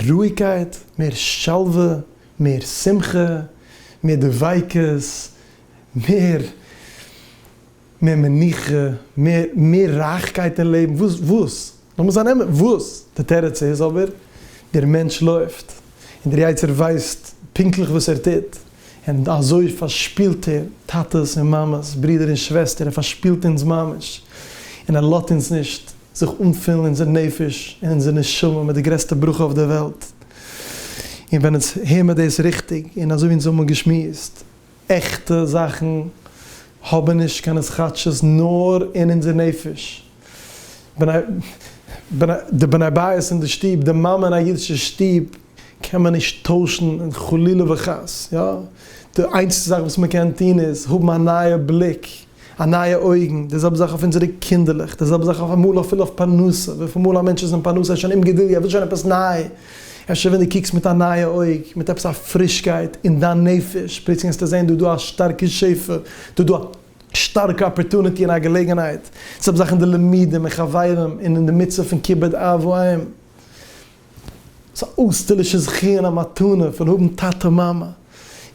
רואיגקייט, מער שלווה, מער שמחה, מער דביקות, מער. מער מנוחה, מער, מער רייכקייט אין לעבן, וואס, וואס? לאמיר זיין אמת, וואס? די תירוץ איז אבער, דער מענטש לויפט, און דער יצה ר ווייסט פונקטליך וואס ער טוט, און אזוי פארשפילט ער טאטעס און מאמעס, ברודער און שוועסטער, ער פארשפילט אונז ממש, און ער לאזט אונז נישט זיך אנפילן אונזער נפש און אונזער נשמה מיט די גרעסטע ברכה אויף דער וועלט. און ווען אונז הער מיר דאס ריכטיג, און אזוי ווי אונז האבן געשמועסט, עכטע זאכן האבן נישט קיין התחדשות נאר אין אונזער נפש. די בני בית אין די שטוב, די מאמע אין א אידישע שטוב קען מען נישט טוישן חלילה וחס, יא, די איינציגסטע זאך וואס מען קען טון איז האבן א נייע בליק א נייע אויגן, די זעלבע זאך אויף אונזערע קינדערלעך, די זעלבע זאך אויף אמאל אפילו אויף פרנסה, וויפיל מאל א מענטש איז אין פרנסה ער איז שוין אומגעדולדיג ער וויל שוין עפעס ניי, אפשר ווען די קוקסט מיט א נייע אויג, מיט עפעס א פרישקייט אין דיין נפש, פלוצלינג וועסטו זען דא איז דא א שטארקע שפע, דא איז דא א שטארקע אפערטוניטי און א געלעגנהייט, די זעלבע זאך אין די לימודים און חברים און אין די מצוה פון כיבוד אב ואם. ס'איז א אויסטערלישע זכי' און א מתנה פון האבן טאטע מאמע,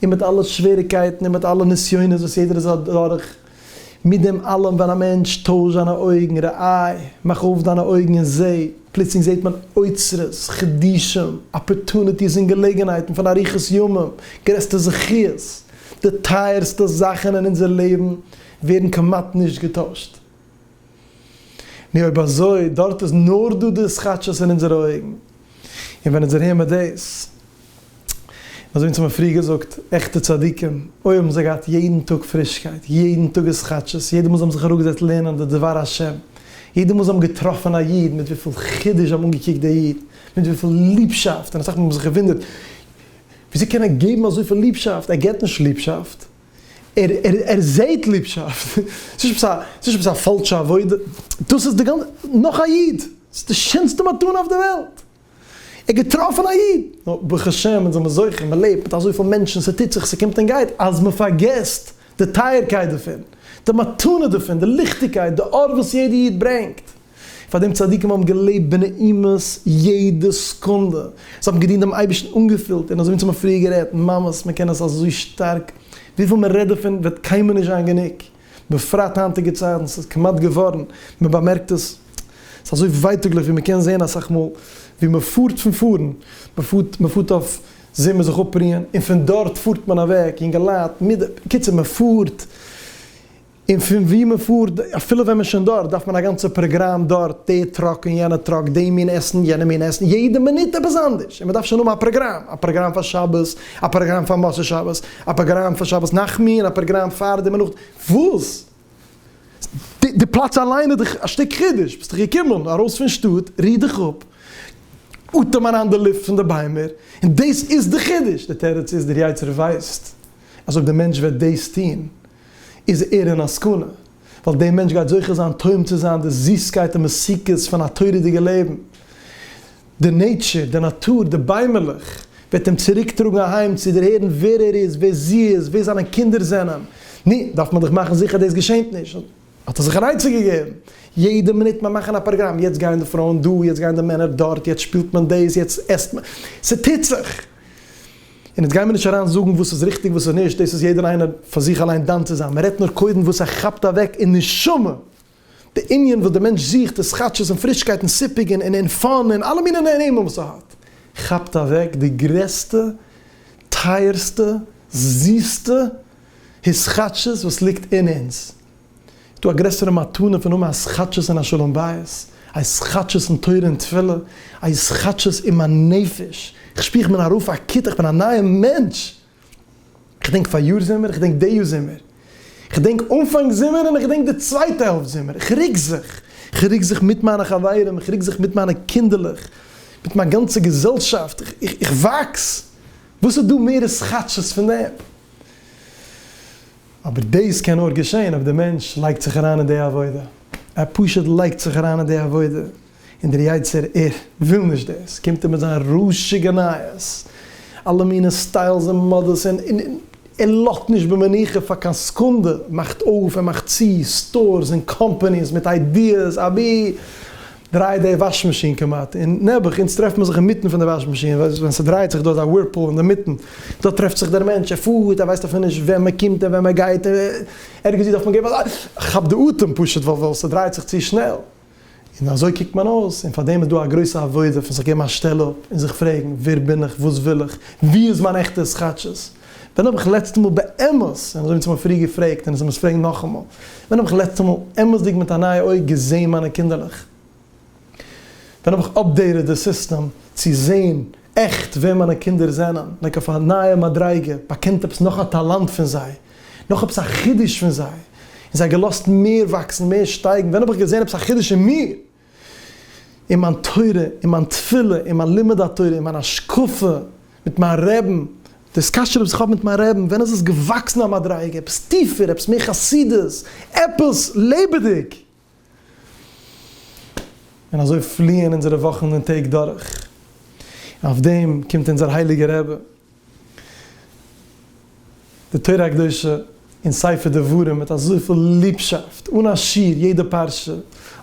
און מיט אלע שוועריקייטן און מיט אלע נסיונות וואס יעדער איז אדורך, מיט דעם אלעם ווען א מענטש טויש זיינע אויגן, רעאי', מאך אויף דיינע אויגן און זע, פלוצלינג זעט מען אוצרות, חידושים, אפערטוניטיס און געלעגנהייטן פון אריכות ימים, גרעסטע זכיות, די טייערסטע זאכן אין אונזער לעבן ווערן כמעט נישט געטוישט. נו אויב אזוי, דארט איז נאר דא די סכאטשעס אין אונזערע אויגן, און ווען אונזער העמיר דאס, אזוי ווי אונז האבן פריער געזאגט, עכטע צדיקים, אוי האבן זיי געהאט יעדן טאג פרישקייט, יעדן טאג איז סכאטשעס, יעדע מאל זיי האבן זיך אראפגעזעצט לערנען די דבר השם, יעדע מאל זיי האבן געטראפן א איד, מיט וויפיל חידוש זיי האבן אנגעקוקט די איד, מיט וויפיל ליבשאפט, און אסאך מאל האבן זיך געוואונדערט, וויאזוי קען ער געבן אזויפיל ליבשאפט, ער גיבט נישט ליבשאפט, ער ער ער זעהט ליבשאפט. ס'איז נישט עפעס א ס'איז נישט עפעס א פאלשע עבודה. דאס איז די גאנ נאך א איד. ס'איז די שענסטע מתנה אויף די וועלט. ער האט געטראפן א איד. נאר ברוך השם אונז זעמער זוכה מען לעבט מיט אזויפיל מענטשן ס'טוט זיך ס'קומט און גייט אז מען פארגעסט די טייערקייט דערפון. די מתנה דערפון. די ליכטיגקייט. די אור וואס יעדע איד ברענגט. פאר דעם צדיקים האבן געלעבט בנעימות יעדע סקונדע, זיי האבן געדינט דעם אייבערשטן אנגעפילט און אזוי ווי אונז האבן פריער גערעדט ממות, מען קען עס אזוי שטארק, וויפיל מען רעדט דערפון וועט קיינמאל נישט זיין גענוג, בפרט היינטיגע צייטן, ס'איז כמעט געווארן, מען באמערקט עס, ס'איז אזוי ווייטאגליך ווי מען קען זען אסאך מאל ווי מען פארט פון פארן, מען פארט, מען פארט אויף זומער זיך אפרוען און פון דארט פארט מען אוועק, יונגעלייט, מידע, בקיצור מען פארט. און פון וואו מען פארט, אפילו ווען מען איז שוין דארט, דארף מען א גאנצע פראגראם דארט, די טראק און יענע טראק, די מין עסן, יענע מין עסן, יעדע מינוט עפעס אנדערש, און מען דארף שוין האבן א פראגראם, א פראגראם פאר שבת, א פראגראם פאר מוצאי שבת, א פראגראם פאר שבת נחמו און א פראגראם פאר די מנח, וואס? די די פלאץ אליין איז דאך א שטיק חידוש, ביסט דאך געקומען ארויס פון שטאט, ריר דיך אפ, אטעם אריין די לופט פון די ביימער, און דאס איז די חידוש, די תירוץ איז, דער יצ ר ווייסט אז אויב דער מענטש וועט דאס טון, איז ער אין א סכנה, ווייל דער מענטש גייט זוכה זיין טועם צו זיין די זיסקייט און מתיקות פון א תורה'דיגע לעבן. די נעטשור, די נאטור, די ביימערלעך, וועט אים צוריק טראגן אהיים צו דערהערן ווער ער איז, ווער זי איז, ווער זיינע קינדער זענען. נו, דארף מען דאך מאכן זיכער דאס געשענט נישט. האט ער זיך אן עצה געגעבן. יעדע מינוט מען מאכן א פראגראם, יעצט גייען די פרויען דא, יעצט גייען די מענער דארט, יעצט שפילט מען דאס, יעצט עסט מען. ס'טוט זיך! און יעצט גיימיר נישט אריין זאגן וואס איז ריכטיג וואס איז נישט, דאס איז יעדער איינער פאר זיך אליין דן צו זיין, מען רעדט נאר קודם וואס ער כאפט אוועק אין נשמה, די ענין וואס די מענטש זוכט איז כאטשיס און פרישקייט און סיפוק און און פאן און אלע מיני נעימים וואס ער האט, כאפט אוועק די גרעסטע טייערסטע זיסטע התחדשות וואס ליגט אין אונז. איז דא א גרעסערע מתנה פון האבן א התחדשות אין א שלום בית, א התחדשות אין תורה און תפילה, א התחדשות אין מיין נפש, איך שפיר איך בין ארויף א כיתה, איך בין א נייער מענטש, איך דענק פאריאר זומער, איך דענק די יאר זומער, איך דענק אנפאנג זומער און איך דענק די צווייטע העלפט זומער, איך רוק זיך, איך רוק זיך מיט מיינע חברים, איך רוק זיך מיט מיינע קינדערלעך, מיט מיין גאנצע געזעלשאפט, איך וואקס, וואס איז דא מער התחדשות פון דעם? אבער דאס קען נאר געשען אויב די מענטש לייגט זיך אריין אין די עבודה, ער פשוט לייגט זיך אריין אין די עבודה, און דער יצה ר וויל נישט דאס, קומט ער מיט זיין רש'יגע נייעס, אלע מיני סטיילס און מאדעס, און און און ער לאזט נישט במנוחה פאר קיין סעקונדע, מאכט אויף און מאכט צו סטארס און קאמפאניס מיט איידיעס אבי דרייעט די וואש מאשין כמעט און נעבעך אונז טרעפט מען זיך אינמיטן פון די וואש מאשין ווען ס'דרייעט זיך דא איז א ווירפול אינמיטן דא טרעפט זיך דער מענטש ער פארט ער ווייסט אפילו נישט ווען מען קומט און ווען מען גייט און ערגעץ ווי דארף מען געבן א כאפ די אטעם פשוט ווייל ס'דרייעט זיך צו שנעל און אזוי קוקט מען אויס און פארדעם איז דא א גרויסע עבודה פון זיך געבן א שטעל אפ און זיך פרעגן ווער בין איך וואס וויל איך וואו איז מיין עכטע סכאטשעס. ווען האב איך לעצטע מאל באמת, און אזוי ווי צו מיר פריער געפרעגט און עס מוז פרעגן נאכאמאל, ווען האב איך לעצטע מאל אמת'דיג מיט א נייע אויג געזעהן מיינע קינדערלעך? ווען האב איך אפדעיטעד די סיסטעם צו זעהן עכט ווער מיינע קינדער זענען, לייק אויף א נייע מדריגה, באקענט עפעס נאך א טאלאנט פון זיי, נאך עפעס א חידוש פון זיי, און זיי געלאזט מער וואקסן, מער שטייגן, ווען האב איך געזעהן עפעס א חידוש אין מיר? אין מיין תורה, אין מיין תפילה, אין מיין לימוד התורה, אין מיין השקפה, מיט מיין רעבן, די סקאשער וואס איך האב מיט מיין רעבן, ווען איז עס געוואקסן א מדריגה, עפעס טיפער, עפעס מער חסידות, עפעס לעבעדיג. און אזוי פליען אונזערע וואכן און טעג דורך, און אויף דעם קומט אונזער הייליגער רבי, די תורה הקדושה און ספר דברים מיט אזויפיל ליבשאפט אן א שיעור יעדע פרשה,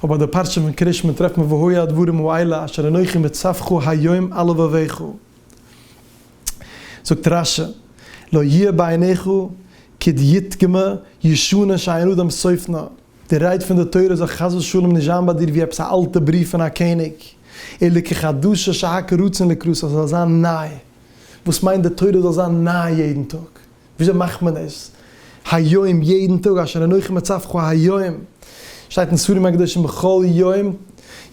אויב ביי די פרשה פון קרית שמע טרעפט מען והוי הדברים האלה אשר אנכי מצווך היום על לבביך, זאגט רש י לא יהיה בעיניך כדיתגמ ישנה שאין אדם סופנה, די רייד פון די תורה זאל חס ושלום נישט זיין ביי דיר ווי עפעס א אלטע בריוו פון א קעניג, אלא כחדשה שהק' רצון לקרא, ס'זאל זיין ניי. וואס מיינט די תורה זאל זיין ניי יעדן טאג? וויאזוי מאכט מען עס היום יעדן טאג אשר אנכי מצווך היום? שטייט אין ספרים הקדושים בכל יום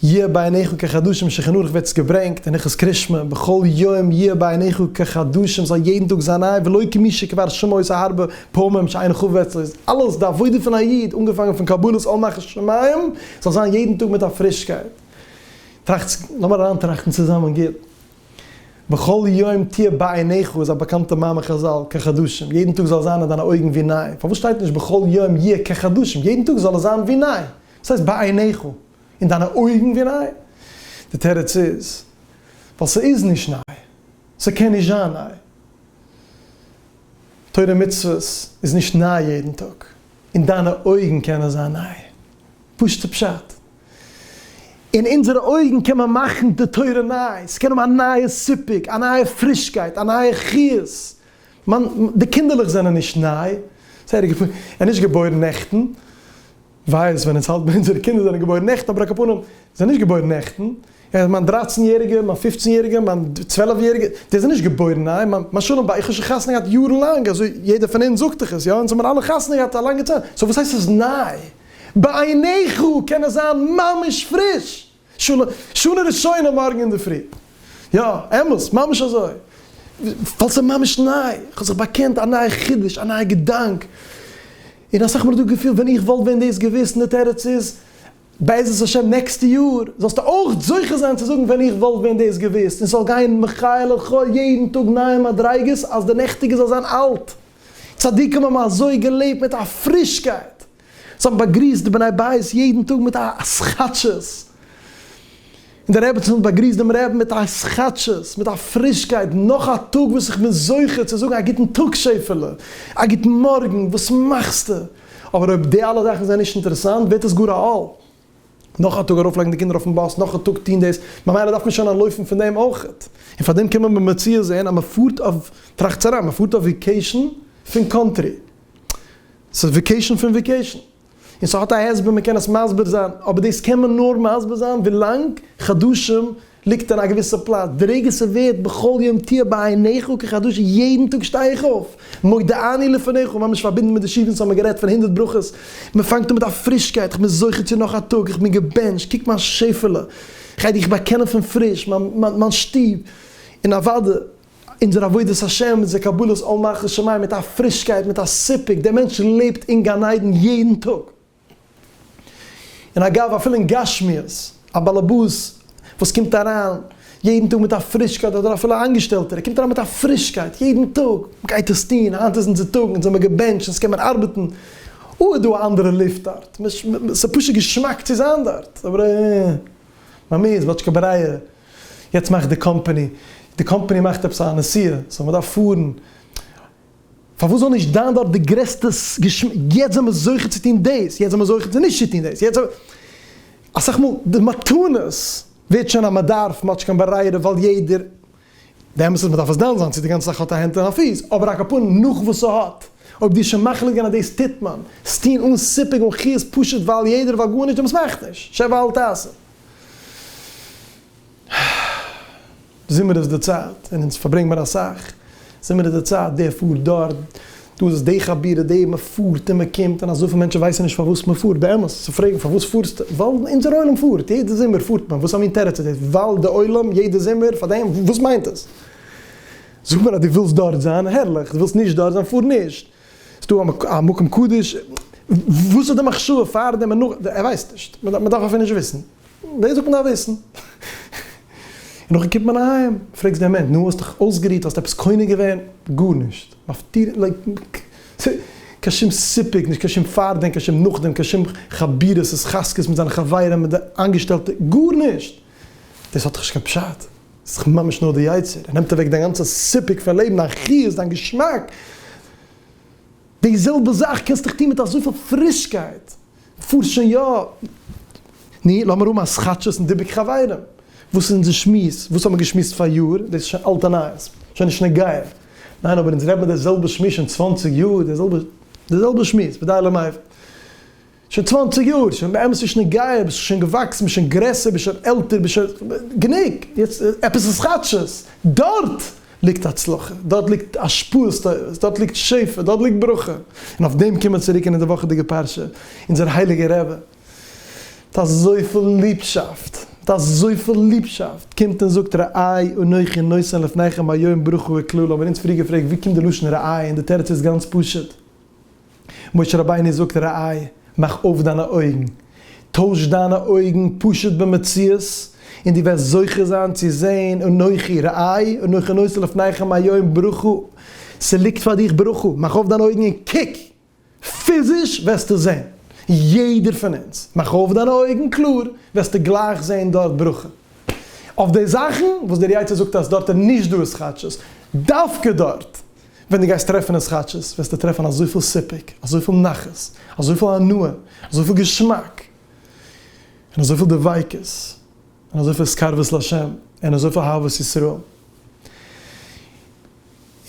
יהיה בעיניך כחדשים שולחן ערוך ווערט עס געברענגט אין הלכות קרישמע בכל יום יהיה בעיניך כחדשים זאל יעדן טאג זיין ניי ולא כמי שכבר שמע את הרבה פעמים שאין חובה אצלו איז אלעס די עבודה פון א איד אנגעפאנגען פון קבלת עול נחת שמים זאל זיין יעדן טאג מיט א פרישקייט טראכטס לאמיר אריינטראכטן צוזאמען גוט. בכל יום תהיה בעיניך איז א באקאנטע מאמר חזל, כחדשים, יעדן טאג זאל זיין אין דיינע אויגן ווי ניי, פארוואס שטייט נישט בכל יום יהיה כחדשים, יעדן טאג זאל עס זיין ווי ניי, וואס הייסט בעיניך, אין דיינע אויגן ווי ניי? די תירוץ איז, ווייל ס'איז נישט ניי, ס'קען נישט זיין ניי, תורה ומצוות איז נישט ניי יעדן טאג, אין דיינע אויגן קען עס זיין ניי, פשוט'ע פשט. אין אונזערע אויגן קען מען מאכן די תורה ניי, ס'קען האבן א נייע סיפוק, א נייע פרישקייט, א נייע חיות. מיין, די קינדערלעך זענען נישט ניי, ס'הער איך געפונען, ער נישט געבוירן נעכטן, וויי איז ווען אונז האלט ביי אונזערע קינדער זענען געבוירן נעכטן, אבער ע כ פנים, זענען נישט געבוירן נעכטן. ער מיין דרײַצן יעריגער, מיין פֿופֿצן יעריגער, מיין צוועלף יעריגער, די זענען נישט געבוירן ניי, מיין מיין שלום בית, איך האב שוין חתונה געהאט יארן לאנג, אזוי יעדער פון אונז זאגט דאך עס, יא, אונז האבן אלע חתונה געהאט א לאנגע צייט, סאו וואס הייסט ס'איז ניי? בעיניך קען עס זיין ממש פריש, של שנה ראשונה מארגן אינדערפרי, יא, אמת, ממש אזוי, ווייל ס'איז ממש ניי, איך האב זיך באקענט א נייע חידוש, א נייע געדאנק, און אסאך מאל איז דא געפיל ווען איך וואלט ווען דאס געוואוסט אין די תרצ ז, בעזרת השם נעקסטע יאר זאלסטו אויך זוכה זיין צו זאגן ווען איך וואלט ווען דאס געוואוסט און ס'זאל גיין מחי' לחי' יעדן טאג נייע מדריגות אז די נעכטיגע זאל זיין אלט. צדיקים האבן אזוי געלעבט מיט א פרישקייט, זיי האבן באגריסט די בני בית יעדן טאג מיט א סכת ש ס. און דער רעבעצין האט באגריסט דעם רעבן מיט א התחדשות, מיט א פרישקייט, נאך א טאג וואס איך בין זוכה צו זאגן א גוטן טאג שעפעלע, א גוטן מארגן, וואס מאכסטו? אבער אויב די אלע זאכן זענען נישט אינטערעסאנט ווערט עס גאר א עול, נאך א טאג ארויפלייגן די קינדער אויפן באס, נאך א טאג טון דאס, ממילא דארף מען שוין אנטלויפן פון דעם אויכעט, און פאר דעם קען מען במציאות זען אז מען פארט אויף, טראכטס אריין, מען פארט אויף וויקעישן פון קאנטרי, ס'איז וויקעישן פון וויקעישן. און ס'האט א הסבר מ'קען עס מסביר זיין, אבער דאס קען מען נאר מסביר זיין ווילאנג חדשים ליגט אין א געוויסע פלאץ, די רגע ס'ווערט בכל יום תהיה בעיניך כחדשה יעדן טאג שטיי איך אויף, מודה אני לפניך, ממש פארבינדן מיט די שיעורים וואס האבן גערעדט פון הונדערט ברכות, מ'פאנגט אן מיט א פרישקייט, איך בין זוכה צו נאך א טאג, איך בין געבענטשט, קוק מיין שעפעלע, כ'גיי דיך באקענען פון פריש, מיין שטוב, און אוואדע. אונזער עבודת השם, אונזער קבלת עול מלכות שמים מיט א פרישקייט, מיט א סיפוק, דער מענטש לעבט אין גן עדן יעדן טאג. און אגב, אפילו אין גשמיות, א באלעבאס וואס קומט אריין יעדן טאג מיט א פרישקייט, אדער אפילו א איינגעשטעלטער, ער קומט אריין מיט א פרישקייט יעדן טאג, מען גייט עס טון, היינט איז אונזער טאג, אונז זעמיר געבענטשט, אונז קען מען ארבעטן, אוי איז דא א אנדערע לופט דארט, ס'איז פשוט געשמאק צו זיין דארט. ביי מיר איז וואטשקע ברייער, יעצט מאכט די קאמפעני, די קאמפעני מאכט עפעס א נסיעה, סאו מען דארף פארן, פארוואס זאל נישט זיין דארט די גרעסטע געשמאק, יעצט זענען מיר זוכה צו טון דאס, יעצט זענען מיר זוכה צו נישט צו טון דאס, יעצט זענען מיר, אסאך מאל די מתנות ווערט שוין אז מען דארף מאטשקען ברייערע ווייל יעדער די אמת איז מען דארף עס דן זיין צו די גאנצע זאך האט א הענט און א פיס, אבער א קאפאן נאך וואס ס'האט, אויב דו איז שוין מחליט געווען אז דאס טוט מען, עס טון אן סיפוק און חירות פשוט ווייל יעדער ווייל גארנישט דעמאלטס מאכט נישט, שב ואל תעשה. זומער איז די צייט און אונז פארברענגט מיר אסאך. זומער איז די צייט, דער פארט דארט, דא איז עס די חבירה, די מען פארט און מען קומט, און אזויפיל מענטשן ווייסן נישט פארוואס מען פארט, באמת צו פרעגן פארוואס פארסטו, ווייל אונזער עולם פארט, יעדע זומער פארט מען, וואס א מין תירוץ איז דאס, ווייל די עולם יעדע זומער, פאר דעם, וואס מיינט עס? זאג מיר אז דו ווילסט דארט זיין, הערליך, דו ווילסט נישט דארט זיין, פאר נישט, ס'איז דא א מקום קדוש, וואס איז די מחשבה פאר דעם און נאך דעם, ער ווייסט נישט, מען דארף אפילו נישט וויסן. דאס דארף מען דאך וויסן. און נאכדעם קומט מען אהיים, פרעגסט די אמת, נו, האסט דיך אויסגערוהט, האסט עפעס קונה געווען? גארנישט. מפטיר, לייק, קיין שום סיפוק נישט, קיין שום פארדעם, קיין שום נאכדעם, קיין שום חבירות, התחזקות מיט זיינע חברים, מיט די איינגעשטעלטע, גארנישט! דאס האט דאך נישט קיין פשט. דאס איז דאך ממש נאר די יצר. ער נעמט אוועק דיין גאנצע סיפוק פון לעבן, דיין חיות, דיין געשמאק. די זעלבע זאך קענסט דיך טון מיט אזויפיל פרישקייט. פארט שוין יא. נו, לאמיר האבן א סכאטשעס און דיבוק חברים. וואס איז אונזער שמועס? וואס האט מען געשמועסט פאריאר? דאס איז שוין אלטע נייעס. שוין נישט נוגע. ניין, אבער אונז רעדט מען די זעלבע שמועס שוין צוואנציג יאר. די זעלבע די זעלבע שמועס, ודי למעשה. שוין צוואנציג יאר. שוין באמת נישט נוגע. ביסט שוין געוואקסן, ביסט שוין גרעסער, ביסט שוין עלטער, ביסט שוין. גענוג! יעצט עפעס סכאטשעס. דארט! ליגט הצלחה, דארט ליגט השפעות טובות, דארט ליגט שפע, דארט ליגט ברכה, און אויף דעם קומען מיר צוריק אין די וואכעדיגע פרשה, אונזער הייליגער רבי, מיט אזויפיל ליבשאפט, מיט אזויפיל ליבשאפט, קומט און זאגט, רעי אנכי נותן לפניכם היום ברכה וקללה, האבן מיר אונז פריער געפרעגט ווי קומט די לשון רעי, און די תירוץ איז גאנץ פשוט, משה רבינו זאגט ר' איי, מאך אויף דיינע אויגן, טויש דיינע אויגן פשוט במציאות, און דו וועסט זוכה זיין צו זען אנכי ר' איי אנכי נושא לפניכם היום ברכו, ס'ליגט פאר דיך ברכו, מאך אויף דיינע אויגן און קוק, פיזיש וועסטו זען, יעדער פון אונז, מאך אויף דיינע אויגן קלאר, וועסטו גלייך זען דארט ברכו, אויף די זאכן וואס דער יצר זאגט אז דארט איז נישט דא איז כאטשיס, דווקא דארט ווען דו גייסט טרעפן אין סכאטשעס וועסטו טרעפן אזויפיל סיפוק, אזויפיל נחת, אזויפיל הנאה, אזויפיל געשמאק, און אזויפיל דביקות, און אזויפיל התקרבות לה', און אזויפיל אהבת ישראל.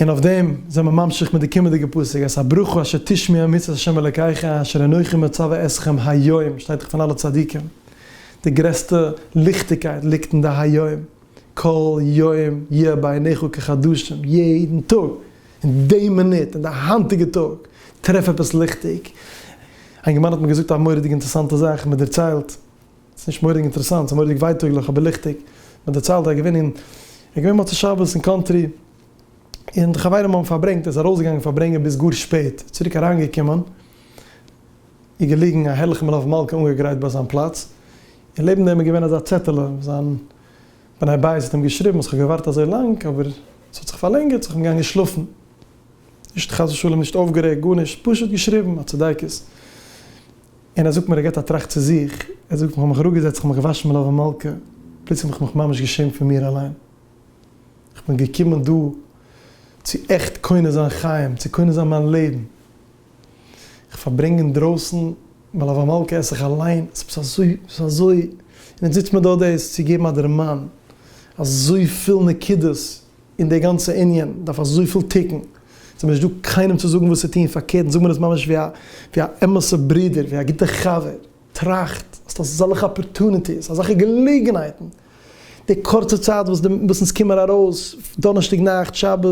און אויף דעם זענען מיר ממשיך מיט די קומענדיגע פסוק, אז הברכו אשר תשמיע מצוות ה' אלוקיך אשר אנכי מצוה אתכם היום, שטייט דאך פון אלע צדיקים, די גרעסטע ליכטיגקייט ליגט אין די היום. כל יום יהיה בעיניך כחדשים, יעדן טאג, אין די מינוט, אין די היינטיגע טאג, טרעף עפעס ליכטיג. איין גמרן האט מיר געזאגט א מורא'דיג אינטערעסאנטע זאך, מען דערציילט, ס'איז נישט מורא'דיג אינטערעסאנט, ס'איז מורא'דיג ווייטאגליך אבער ליכטיג, מען דערציילט אז געווען אין, ער געווען מוצאי שבת אין קאנטרי, און די חברים האבן פארברענגט, ער איז ארויסגעגאנגען פארברענגען ביז גאר שפעט, צוריק אריינגעקומען, איז געליגן א הערליכע מלוה מלכה אנגעגרייט ביי זיין פלאץ, און לעבן דעם איז געווען אזא צעטעלע וואס זיין בני בית האט אים געשריבן אז כ'האב געווארט אזוי לאנג אבער ס'האט זיך פארלענגערט סאו כ'בין געגאנגען שלאפן. נישט חס ושלום נישט אויפגערעגט גארנישט פשוט געשריבן א צדיקות. און ער זאגט מיר ער געט א טראכט צו זיך ער זאגט כ'האב מיך אראפגעזעצט כ'האב מיך געוואשן מלוה ומלכה פלוצלינג האב איך מיך ממש געשעמט פון מיר אליין. כ'בין געקומען דא צו עכט קונה זיין חיים צו קונה זיין מיין לעבן. איך פארברענג אינדרויסן, ווייל אויף א מלקה עס איך אליין, עס איז אזוי, עס איז אזוי, און יעצט זיצט מען דא דאס צו געבן א דערמאן, אזויפיל נקודות אין די גאנצע ענין, דארף אזויפיל תיקון, יעצט איז מיר נישט דא קיינעם צו זאגן וואס צו טון, פארקערט, זאג מיר עס ממש ווי א, ווי א אמת'ע ברודער, ווי א גוטע חבר. טראכט אז אזעלכע אפארטוניטיס, אזעלכע געלעגנהייטן, די קורצע צייט וואס די באסעס קומען ארויס, דאנערשטאג נאכט, שבת,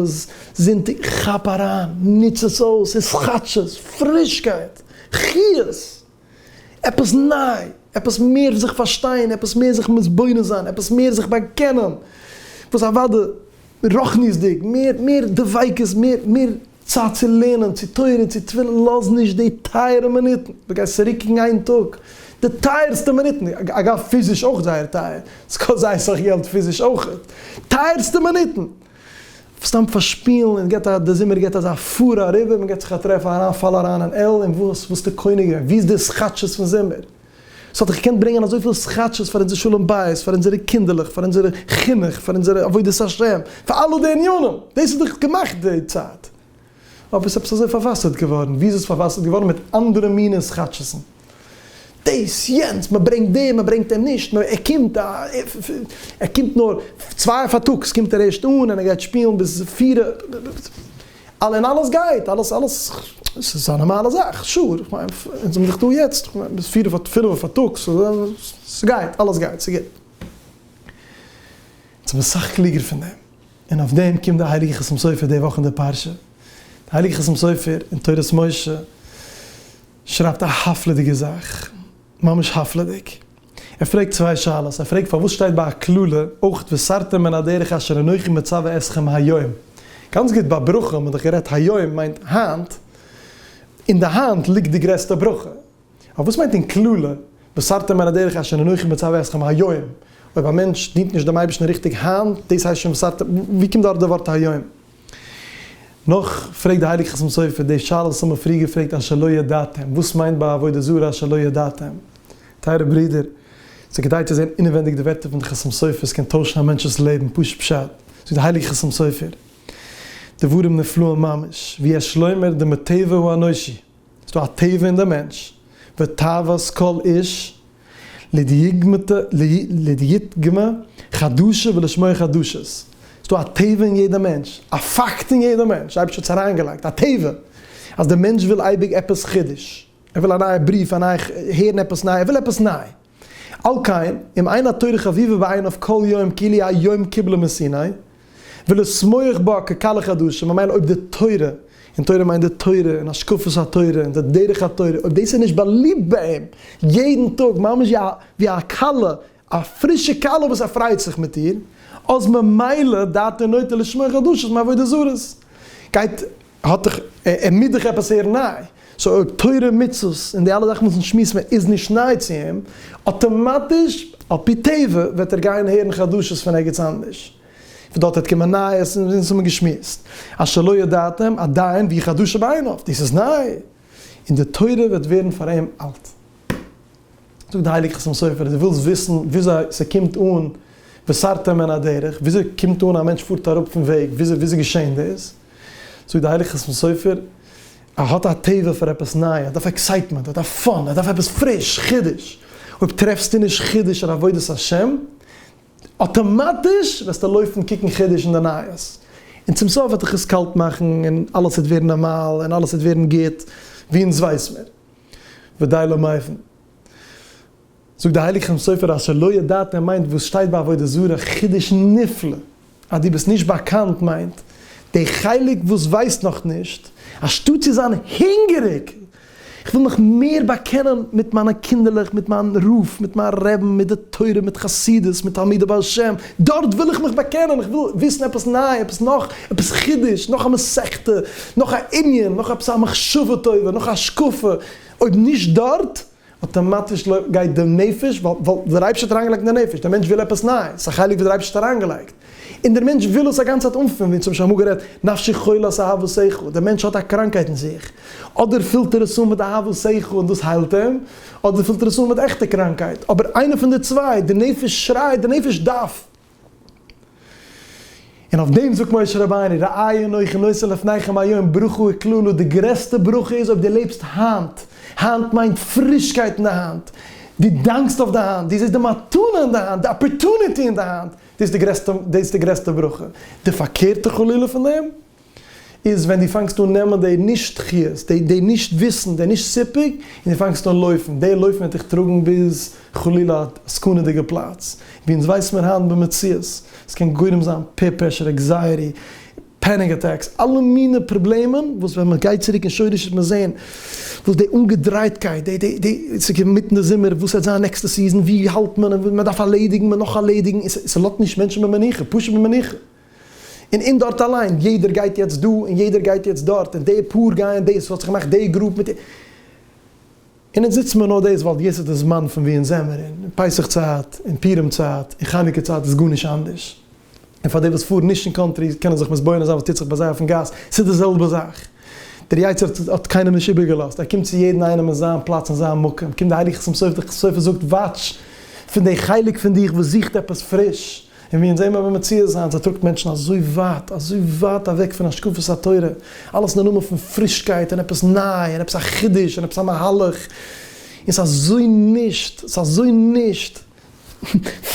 זונטאג, כאפ אריין, נוץ עס אויס, ס'איז כאטשיז, פרישקייט, חיות, עפעס ניי, עפעס מער זיך פארשטיין, עפעס מער זיך מתבונן זיין, עפעס מער זיך באקענען, וואס אוודאי רוחניות'דיג, מער דביקות, מער צייט צו לערנען, צו תורה און צו תפילין, לאז נישט די טייערע מינוטן, דו גייסט צוריקקוקן איין טאג, די טייערסטע מינוטן, אגב פיזיש אויך זייער טייער, עס קאסט זייער סאך געלט פיזיש אויכעט, טייערסטע מינוטן, סתם פארשפילן, און געט א, דער זומער געט אזא פארע אריבער, מען געט זיך א טרעף אריין, פאל אריין אין על, און וואס, וואס איז די קונה געווען, וואו איז די סכת ש פון זומער? ס'וואלט דאך געקענט ברענגען אזויפיל סכאטשעס פאר אונזער שלום בית, פאר אונזערע קינדערלעך, פאר אונזער חינוך, פאר אונזער עבודת השם, פאר אלע די ענינים, דאס איז דאך געמאכט די צייט, אבער ס'איז עפעס אזוי פארוואסערט געווארן, ווי איז עס פארוואסערט געווארן? מיט אנדערע מיני סכאטשעסן, דאס יענץ, מען ברענגט דעם, מען ברענגט אים נישט, מען, ער קומט א, ער קומט נאר צוויי פארטאגס קומט ער ערשט אן, און ער גייט שפילן ביז פיר. אַלע און אַלעס גייט, אַלעס, אַלעס, ס'איז אַ נאָרמאַלע זאַך, שור, איך מיין, אונז זעמיר דאָך דאָ יעצט, איך מיין, ביז פֿיר אויף, פֿינף פֿאַרטאָגס, ס'גייט, אַלעס גייט, ס'איז גוט. אונז זעמיר סך קלוגער פֿון דעם. און אויף דעם קומט די הייליגע חתם סופר די וואָך אין דער פּרשה. דער הייליגער חתם סופר אין תורת משה שרייבט אַ הפֿלא'דיגע זאַך. ממש הפלא'דיג. ער פרעגט צוויי שאלות, ער פרעגט פארוואס שטייט ביי א קללה אויך וסרתם מן הדרך אשר אנכי מצווה אתכם היום. גאנץ גוט ביי ברכה האט מען דאך גערעדט היום מיינט היינט, אין די היינט ליגט די גרעסטע ברכה. אבער וואס מיינט אין קללה וסרתם מן הדרך אשר אנכי מצווה אתכם היום? אויב א מענטש דינט נישט דעם אייבערשטן ריכטיג היינט, דאס הייסט שוין וסרתם? וואו קומט דארט די ווארט היום? נאך פרעגט די הייליגע חתם סופר די שאלות וואס האבן פריער געפרעגט אז שלא ידעתם, וואס מיינט ביי עבודה זרה אז שלא ידעתם? טייערע ברודער, ס'איז כדאי צו זען אינעווענדיג די ווערטער פון די חתם סופר, עס קען טוישן א מענטש'ס לעבן, פשוט פשט, זאגט די הייליגע חתם סופר דברים נפלאים ממש, ויש לומר דמטבע הוא אנושי, ס'דא א טבע אין די מענטש, ותאוות כל איש להתגמא חדשה ולשמוע חדשות, ס'דא א טבע אין יעדע מענטש, א פאקט אין יעדע מענטש, אייבערשטער האט עס אריינגעלייגט, א טבע, אז די מענטש וויל אייביג עפעס חידוש, ער וויל א נייע בריוו, א נייע, הערן עפעס ניי, ער וויל עפעס ניי. על כן, אם אין התורה חביבה בעיניו כל יום כאילו היום קיבלה מסיני, ולשמוח בה כקהל החדשים, ממילא אויב די תורה, און תורה מיינט די תורה און השקפת התורה און די דרך התורה, אויב דאס איז נישט באליבט ביי אים יעדן טאג ממש ווי א כלה, א פרישע כלה וואס ער פריידט זיך מיט איר, אז ממילא דעתו נוטה לשמוח חדשות מעבודה זרות. גייט האט דאך, ער מוז דאך עפעס הערן ניי, סאו אויב תורה ומצוות און די אלע זאכן וואס אונז שמועסן ווען איז נישט ניי צו אים, אטאמאטיש על פי טבע וועט ער גיין הערן חדשות פון ערגעץ אנדערש, פון דארט וועט קומען נייעס און אונז האבן געשמועסט אז שלא ידעתם עדיין והיא חדשה בעיניו, דאס איז ניי, און די תורה וועט ווערן פאר אים אלט. זאגט די הייליגע חתם סופר, דו ווילסט וויסן וויאזוי ס'קומט אן וסרתם מן הדרך, וויאזוי קומט אן א מענטש פארט אראפ פון וועג, וויאזוי וויאזוי געשען דאס? זאגט די הייליגע חתם סופר, ער האט א תאווה פאר עפעס ניי, ער דארף עקסייטמענט, ער דארף פאן, ער דארף עפעס פריש, חידוש, אויב טרעפסטו נישט חידוש אין עבודת השם, אטאמאטיש וועסטו לויפן קוקן חידוש אין די נייעס, און צום סוף וועט דיך עס קאלט מאכן, און אלעס וועט ווערן נארמאל, און אלעס וועט ווערן גוט, ווי אונז ווייס מיר, ודי למעיין. זאגט די הייליגע חתם סופר אז שלא ידעתם מיינט וואס שטייט ביי עבודה זרה, חידוש נפלא, אז דו ביסט נישט באקאנט מיינט די חלק וואס ווייסט נאך נישט, אנשטאט צו זיין הונגעריג איך וויל מיך מער באקענען מיט מיינע קינדערלעך, מיט מיין רוף, מיט מיין רעבן, מיט די תורה, מיט חסידות, מיט תלמידי בעל שם, דארט וויל איך מיך באקענען, איך וויל וויסן עפעס ניי, עפעס נאך, עפעס חידוש, נאך א מסכתא, נאך א ענין, נאך עפעס א מחשבה טובה, נאך א השקפה, אויב נישט דארט, אטאמאטיש לויפט גייט די נפש ווייל ווייל דער אייבערשטער האט אריינגעלייגט אין די נפש, דער מענטש וויל עפעס נייעס, ס'איז א חלק וואס דער אייבערשטער האט אריינגעלייגט, און דער מענטש וויל עס א גאנצע צייט אנפילן, ווי צום משל האמיר גערעדט, נפשי חולת אהבת שכל, דער מענטש האט א קראנקהייט אין זיך, אדער פילט ער עס אן מיט אהבת שכל און דאס היילט אים, אדער פילט ער עס אן מיט עכטע קראנקהייט, אבער איינע פון די צוויי, די נפש שרייט, די נפש דארף. און אויף דעם זאגט משה רבינו, ראה הנה אנכי נושא לפניכם היום ברכה וקללה, די גרעסטע ברכה איז אויב דו לעבסט היינט, היינט מיינט פרישקייט אין די האנט, דו דאנקסט אויף די היינט, דו זעסט די מתנה אין די היינט, די אפערטוניטי אין די היינט, דאס איז די גרעסטע ברכה, די פארקערטע חלילה פון דעם, איז ווען דו פאנגסט אן נעמען די נישט חיות, די די נישט וויסן, די נישט סיפוק, און דו פאנגסט אן לויפן, די לויפן וועט דיך טראגן ביז חלילה א סכנה'דיגע פלאץ, ווי אונז ווייס מיר היינט במציאות, עס קען גורם זיין פעיר פרעשור, עקזייעטי, פעניק אטעקס, אלע מיני פראבלעמען וואס ווען מען גייט צוריק אין שורש וועט מען זען וואס די אנגעדרייטקייט, די די די עס איז אינמיטן די זומער, וואס וועט זיין נעקסטע סיזאן, ווי האלט מען, מען דארף ארלעדיגן, מען נאך ארלעדיגן, עס עס לאזט נישט מענטשן במנוחה, פשוט במנוחה. און און דארט אליין, יעדער גייט יעצט דא און יעדער גייט יעצט דארט, און די פאר גייען דאס, האט זיך געמאכט די גרופ מיט די. און אונז זיצן מיר נאר דאס ווייל יעצט איז די זמן פון ווי אונז זעמער, און פסח צייט און פורים צייט און חנוכה צייט איז גארנישט אנדערש, און פאר די וואס פארן נישט אין קאנטרי קענען זיך מתבונן זיין וואס טוט זיך ביי זיי אויפן גאס, ס'איז די זעלבע זאך, דער יצר האט האט קיינעם נישט איבערגעלאזט, ער קומט צו יעדן איינעם אין זיין פלאץ און זיין מקום, קומט די הייליגע חתם סופר, די חתם סופר זאגט וואטש פון די חלק פון דיך וואס זוכט עפעס פריש, און ווי אונז זעמער במציאות זיין זיי טראגט מענטשן אזוי ווייט אזוי ווייט אוועק פון השקפת התורה, אלעס אין די נאמען פון פרישקייט און עפעס ניי און עפעס א חידוש און עפעס א מהלך, און ס'איז אזוי נישט ס'איז אזוי נישט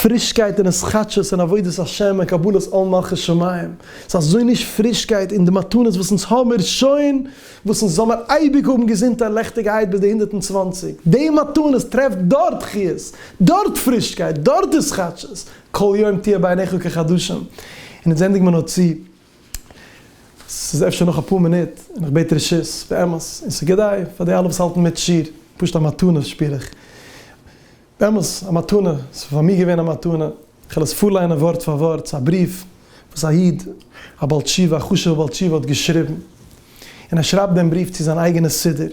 פרישקייט און התחדשות און עבודת השם און קבלת עול מלכות שמים, ס'איז אזוי נישט פרישקייט און די מתנות וואס אונז האמיר שוין וואָסן זאָל מיר אייביק האָבן געזונט און לעכטיגהייט ביז די הונדערט און צוואַנציק. די מתנות טרעפט דאָרט חיות, דאָרט פרישקייט, דאָרט איז כאַטשעס. כל יום תהיה בעיניך כחדשים. און איצט זענדיג מיר נאָר צו, ס'איז אפשר נאָך אַ פּאָר מינוט, און איך בעט רשות, באמת, און ס'איז כדאי פאַר די אַלע וואָס האַלטן מיט שיר, פּשוט אַ מתנה שפּיר איך. באמת א מתנה, ס'איז פאר מיר געווען א מתנה, איך וועל עס פארליינען ווארט פאר ווארט, ס'איז א בריוו וואס א איד, א בעל תשובה, א חשוב'ער בעל תשובה האט געשריבן, און ער שרייבט דעם בריוו צו זיין אייגענע סידור,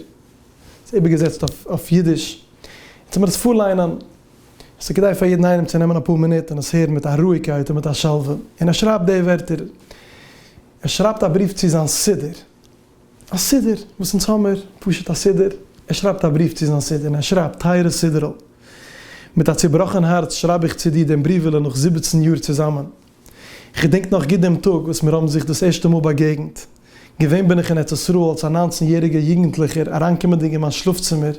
ס'איז איבערגעזעצט אויף אידיש, און צו מיר עס פארליינען, עס איז כדאי פאר יעדן איינעם צו נעמען אפאר מינוט און עס הערן מיט א רואיגקייט און מיט א שלווה, און ער שרייבט די ווערטער, ער שרייבט א בריוו צו זיין סידור, א סידור וואס אונז האמער, פשוט א סידור, ער שרייבט א בריוו צו זיין סידור און ער שרייבט, טייערע סידור'ל, מיט א צובראכן הארץ שרייב איך צו דיר דעם בריוועלע נאך זיבעצן יאר צוזאמען. איך געדענק נאך גוט דעם טאג וואס מיר האבן זיך דאס ערשטע מאל באגעגנט. געווען בין איך אין ארץ ישראל אלס א ניינצן יעריגער יוגנטליכער, אריינקומענדיג אין מיין שלאף-צימער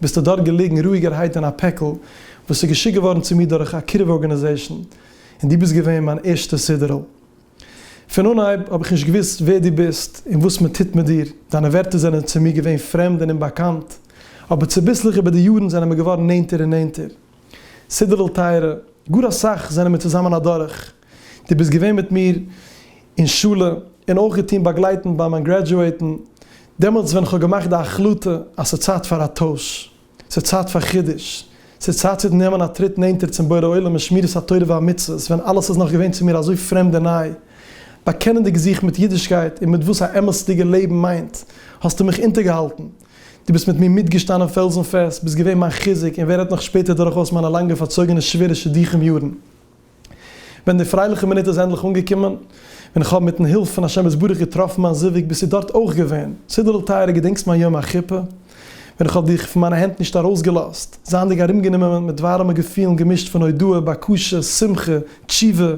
ביסטו דארט געליגן רואיגערהייט אין א פעקל וואס איז געשיקט געווארן צו מיר דורך א קירוב ארגאניזעישן, און דו ביסט געווען מיין ערשטע סידור'ל. פון אנהייב האב איך נישט געוואוסט ווער דו ביסט און וואס מען טוט מיט דיר, דיינע ווערטער זענען צו מיר געווען פרעמד און אומבאקאנט, אבער צוביסלעך איבער די יארן זענען מיר געווארן נענטער און נענטער. סידור'ל טייערע, גאר אסאך זענען מיר צוזאמען אדורך, דו ביסט געווען מיט מיר אין שולע און אויך געטון באגלייטן ביי מיין גרעדזשועטן, דעמאלטס ווען כ'האב געמאכט די החלטה אז ס'צייט פאר א טויש. ס'איז צייט פאר חידוש, ס'איז צייט צו נעמען א טריט נענטער צום בורא עולם אין שמירת התורה והמצוות, ווען אלעס איז נאך געווען צו מיר אזוי פרעמד און ניי. באקענענדיג זיך מיט אידישקייט און מיט וואס א אמת'דיגע לעבן מיינט, האסטו מיך אונטערגעהאלטן. דו ביסט מיט מיר מיטגעשטאנען פעלזן פעסט, ביסט געווען מיין חיזוק און ווערהייט נאך שפעטער דורכאויס מיינע לאנגע פארצויגענע שווערע שידוכים יארן. ווען די פרייליכע מינוט איז ענדליך אנגעקומען, ווען איך האב מיטן הילף פון השם יתברך געטראפן מיין זיווג, ביסטו דארט אויך געווען. סידור'ל טייערע געדענקסט מיין יום החופה? ווען איך האב דיך פון מיינע הענט נישט ארויסגעלאזט, זייענדיג ארומגענומען מיט ווארעמע געפילן געמישט פון הודאה, בקשה, שמחה, תשובה,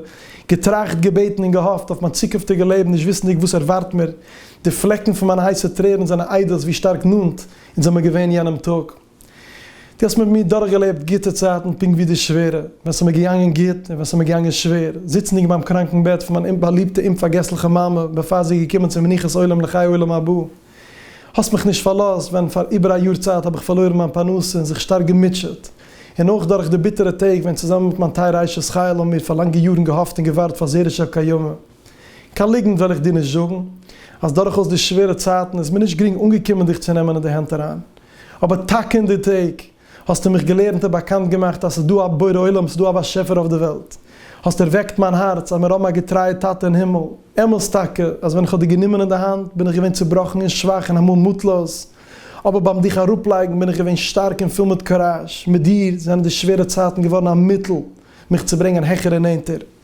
געטראכט, געבעטן און געהאפט אויף מיין צוקונפטיגע לעבן נישט וויסנדיג וואס ערווארט מיר, די פלעקן פון מיינע הייסע טרערן זענען עדות ווי שטארק נאנט אונז זעמיר געווען יענעם טאג. דו האסט מיט מיר דורכגעלעבט גוטע צייטן פונקט ווי די שווערע, ווען ס'איז מיר געגאנגען גוט און ווען ס'איז מיר געגאנגען שווער, זיצנדיג ביים קראנקן בעט פון מיין באליבטע אומפארגעסליכע מאמע בעפאר זי איז געקומען צו מנוחת עולם לחיי עולם הבא. האסט מיך נישט פארלאזט ווען פאר איבער א יאר צייט האב איך פארלוירן מיין פרנסה און זיך שטארק געמוטשעט, און אויך דורך די ביטערע טעג ווען צוזאמען מיט מיין טייערע אשת חיל האבן מיר פאר לאנגע יארן געהאפט און געווארט פאר זרע של קיימא. קיין ליגנט וועל איך דיר נישט זאגן אז דורכאויס די שווערע צייטן איז מיר נישט גרינג אנגעקומען דיך צו נעמען אין די הענט אריין, אבער טאקע אין די טעג האסטו מיך געלערנט און באקאנט געמאכט אז ס'איז דא א בורא עולם, ס'איז דא א באשעפער אויף די וועלט. האסט ערוועקט מיין הארץ אז מיר האבן א געטרייע טאטע אין הימל. אמת טאקע אז ווען איך האב דיר גענומען אין די האנט בין איך געווען צובראכן און שוואך און אמאל מוטלאז, אבער ביים דיך אראפלייגן בין איך געווען שטארק און פול מיט קוראזש. מיט דיר זענען די שווערע צייטן געווארן א מיטל מיך צו ברענגען העכער און נענטער.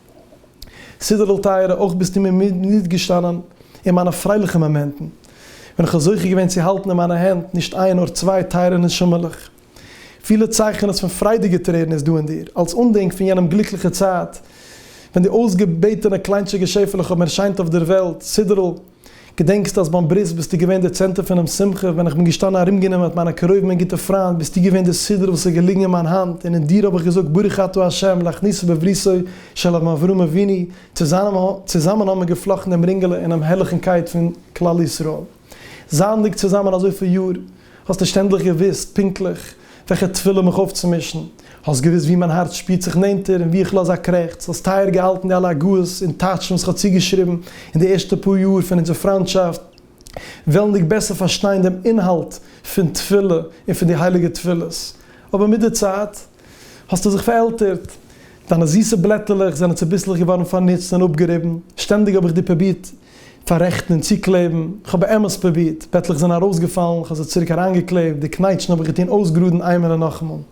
סידערל טייערע, אויך ביסטו מיר מיט געשטאנען אין מיינע פרייליכע מאמענטן, ווען איך האב זוכה געווען צו האלטן אין מיינע הענט נישט איין נאר צוויי טייערע נשמה'לעך. פילע צייכענעס פון פריידיגע טרערן איז דא אין דיר, אלס אנדענק פון יענעם גליקליכע צייט, ווען די אויסגעבעטענע קליינטשיגע שעפעלעך האבן ערשיינט אויף דער וועלט, סידערל. געדענקסט אז ביים ברית ביסטו געווען דער צענטער פונעם שמחה, ווען איך בין געשטאנען ארומגענומען מיט מיינע קרובים און גוטע פריינט ביסטו געווען דער סידור וואס איז געליגן אין מיין האנט און אין דיר האב איך געזאגט ברוך אתה השם להכניסו בבריתו של אבן אברהם אבינו, צוזאמען האבן מיר געפלאכטן דעם רינגעלע אינעם הערליכן קייט פון כלל ישראל זייענדיג צוזאמען אזויפיל יאר. האסט נישט ענדליך געוואוסט פונקטליך וועלכע תפילה מיך אויפצומישן, האסט געוואוסט ווי מיין הארץ שפירט זיך נענטער און ווי איך לאז א קרעכץ, האסט טייער געהאלטן די אלע הגהות און טייטשן וואס כ'האב צוגעשריבן אין די ערשטע פאר יאר פון אונזער פריינטשאפט, וועלנדיג בעסער פארשטיין דעם אינהאלט פון תפילה און פון די הייליגע תפילות, אבער מיט די צייט. האָסטו זיך פֿאַרעלטערט. דײַנע זיסע בלעטעלעך זענען צעביסלעך געוואָרן, פֿאַרנוצט און אָפּגעריבן. שטענדיק האָב איך דיר פּרובירט פֿאַררעכטן און צוקלעבן. כ'האָב באמת פּרובירט. פּעטלעך זענען אַרויסגעפֿאַלן. כ'האָב זיי צוריק אַרײַנגעקלעפּט. די קנייטשן האָב איך געטאָן אויסגראָדן אײנמאָל און נאָכאַמאָל.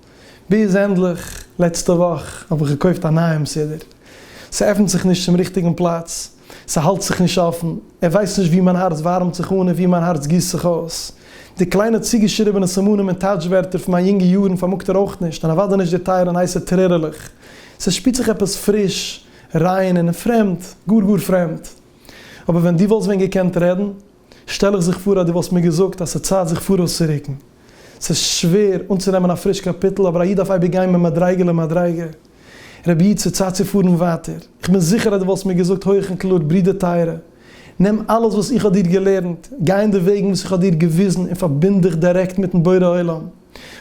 ביז, ענדלעך, לעצטע וואָך האָב איך געקויפֿט אַ נײַעם סידור. ס'עפֿנט זיך נישט צום ריכטיקן פּלאַץ. ס'האַלט זיך נישט אָפֿן. ער װײס נישט װי מײַן האַרץ װאַרעמט זיך אָן און װי מײַן האַרץ גיסט זיך אױס. די קלײנע צוגעשריבענע סימנים און טײַטש-װערטער פֿון מײַן יונגע יאָרן פֿאַרמאָגט ער אױך נישט, און אַװדאי נישט די טײַערע און הײסע טרערעלעך. ס'שפּירט זיך עפּעס פֿריש, רײן און פֿרעמד, גאָר-גאָר פֿרעמד. אָבער װען דו װאָלסט װען געקענט רעדן! שטעל איך זיך פאר אז דו וואלסט מיר געזאגט אז ס'איז צייט זיך פאראויסצורוקן. ס'איז שווער אנצונעמען א פריש קאפיטל, אבער א איד דארף אייביג גיין ממדריגה למדריגה. רבי איד, ס'איז צייט צו פארן ווייטער. איך בין זיכער אז דו וואלסט מיר געזאגט הויעך און קלאר, ברודער טייערע, נעם אלעס וואס איך האב דיר געלערנט, גיי אין די וועגן וואס איך האב דיר געוויזן און פארבינד דיך דירעקט מיט'ן בורא עולם.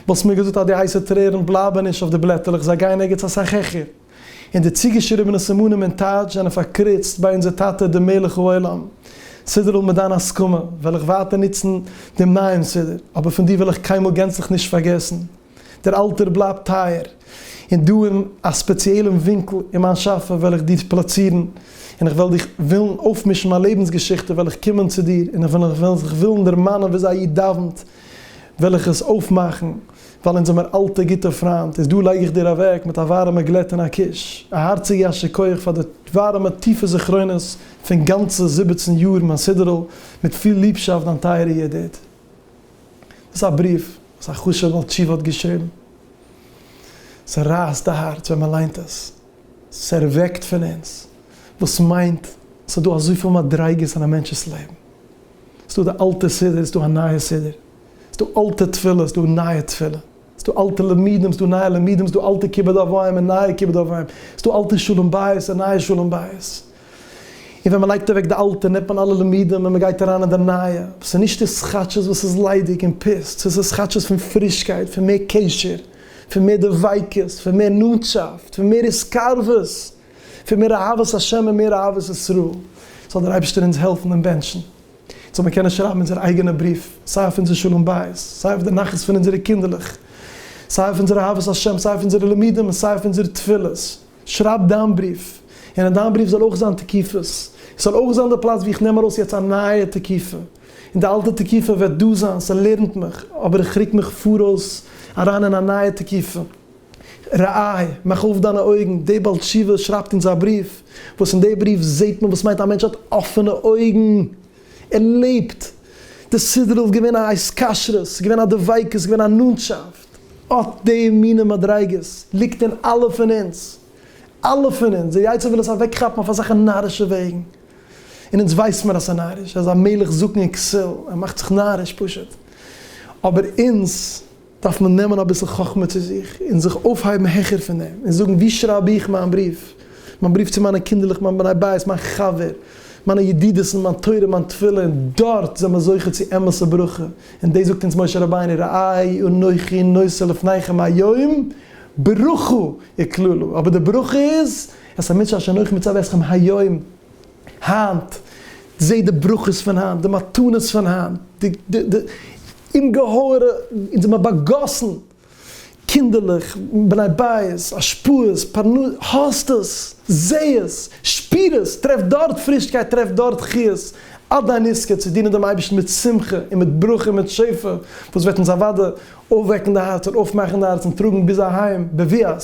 וואלסט מיר געזאגט אז די הייסע טרערן בלייבן נישט אויף די בלעטעלעך, זיי גייען ערגעץ אסאך העכער. און די צוגעשריבענע סימנים און טייטש זענען פארקריצט ביי אונזער טאטע דער מלך העולם. סידור'ל מיט דיין הסכמה וועל איך ווייטער נוצן דעם נייעם סידור, אבער פון דיר וועל איך קיינמאל גענצליך נישט פארגעסן. דער אלטער בלייבט טייער, און דא אין א ספעציעלען ווינקל אין מיין שאפע וועל איך דיר פלאצירן, און איך וועל דיך ווילן אויפמישן מיין לעבנס געשיכטע וועל איך קומען צו דיר און איך וועל זיך ווילן דערמאנען וויאזוי א איד דאווענט, וועל איך עס אויפמאכן, ווייל אונז זעמיר אלטע גוטע פריינט, איז דא לייג איך דיר אוועק מיט א ווארעמע גלעט און א קוש, א הארציגע יישר כח פאר די ווארעמע טיפע זכרונות פון גאנצע זיבעצן יאר מיין סידור'ל, מיט פיל ליבשאפט דיין טייערע ידיד. דאס איז א בריוו וואס א חשוב'ע בעל תשובה האט געשריבן. ס'רייסט די הארץ ווען מ'ליינט עס, ס'ערוועקט פון אונז, וואס מיינט ס'איז דא אזויפיל מדריגות אין א מענטש'ס לעבן. ס'דא די אלטע סידור, ס'דא א נייע סידור, ס'דא אלטע תפילות, ס'דא נייע תפילה, ס'דא אלטע למידים, ס'דא נייע למידים, ס'דא אלטע כיבוד אב ואם און נייע כיבוד אב ואם, ס'דא אלטע שלום בית און נייע שלום בית, און ווען מ'לייגט אוועק די אלטע נעמט מען אלע למידים און מ'גייט אריין אין די נייע, וואס איז נישט די סכאטשעס וואס איז ליידיג און פיסט, ס'איז די סכאטשעס פון פרישקייט, פון מער קשר, פון מער דביקות, פון מער נאנטשאפט, פון מער התקרבות. פון מער אהבת השם און מער אהבת ישראל, זאל דער אייבערשטער אונז העלפן און בענטשן זאל מיר קענען שרייבן אונזער אייגענע בריוו, סיי אויף אונזער שלום בית, סיי אויף די נחת פון אונזערע קינדערלעך, סיי אויף אונזער אהבת השם, סיי אויף אונזערע לימודים און סיי אויף אונזערע תפילות, שרייב דיין בריוו, און אין דיין בריוו זאל אויך זיין תקיפות, עס זאל אויך זיין די פלאץ ווי איך נעם ארויס יעצט א נייע תקיפה, און די אלטע תקיפה וועט דא זיין, ס'לערנט מיך, אבער איך רוק מיך פאראויס אריין אין א נייע תקיפה. רעי, מאך אויף דיינע אויגן, דער בעל תשובה שרייבט אונז א בריוו, וואס אין דער בריוו זעט מען וואס מיינט א מענטש האט אפענע אויגן, ער לעבט, די סדר'ל איז געווען א התקשרות, ס'איז געווען א דביקות, ס'איז געווען א נאנטשאפט, אט די מינע מדריגות ליגט אין אלע פון אונז, אלע פון אונז, דער יצר וויל עס אוועקכאפן אויף אזעלכע נארישע וועגן, און אונז ווייסט מיר אז ס'איז נאריש, ער איז א מלך זקן און כסיל, ער מאכט זיך נאריש פשוט, אבער אונז דארף מען נעמען אביסל חכמה צו זיך און זיך אויפהייבן העכער פון דעם און זאגן ווי שרייב איך מיין בריוו, מיין בריוו צו מיינע קינדערלעך, מיין בני בית, מיין חבר, מיינע ידידות'ן, מיין תורה, מיין תפילה, און דארט זענען מיר זוכה צו אמת'ע ברכה, און דאס זאגט אונז משה רבינו ראה אנכי נושא לפניכם היום ברכה וקללה, אבער די ברכה איז, את המצוה אשר אנכי מצוה אתכם היום. היינט, זעה די ברכות פון היינט, די מתנות פון היינט, די די די אומגעהויערע, אונז האבן מיר באגאסן קינדערלעך, בני בית, השפעות, פרנסה, האסט עס, זעה עס, שפיר עס, טרעף דארט פרישקייט, טרעף דארט חיות, אט דיין עסקן, צו דינען דעם אייבערשטן מיט שמחה און מיט ברכה און מיט שפע, וואס וועט אונז אוודאי אויפוועקן די הארצער, אויפמאכן די הארצן, טראגן ביז אהיים, בביאת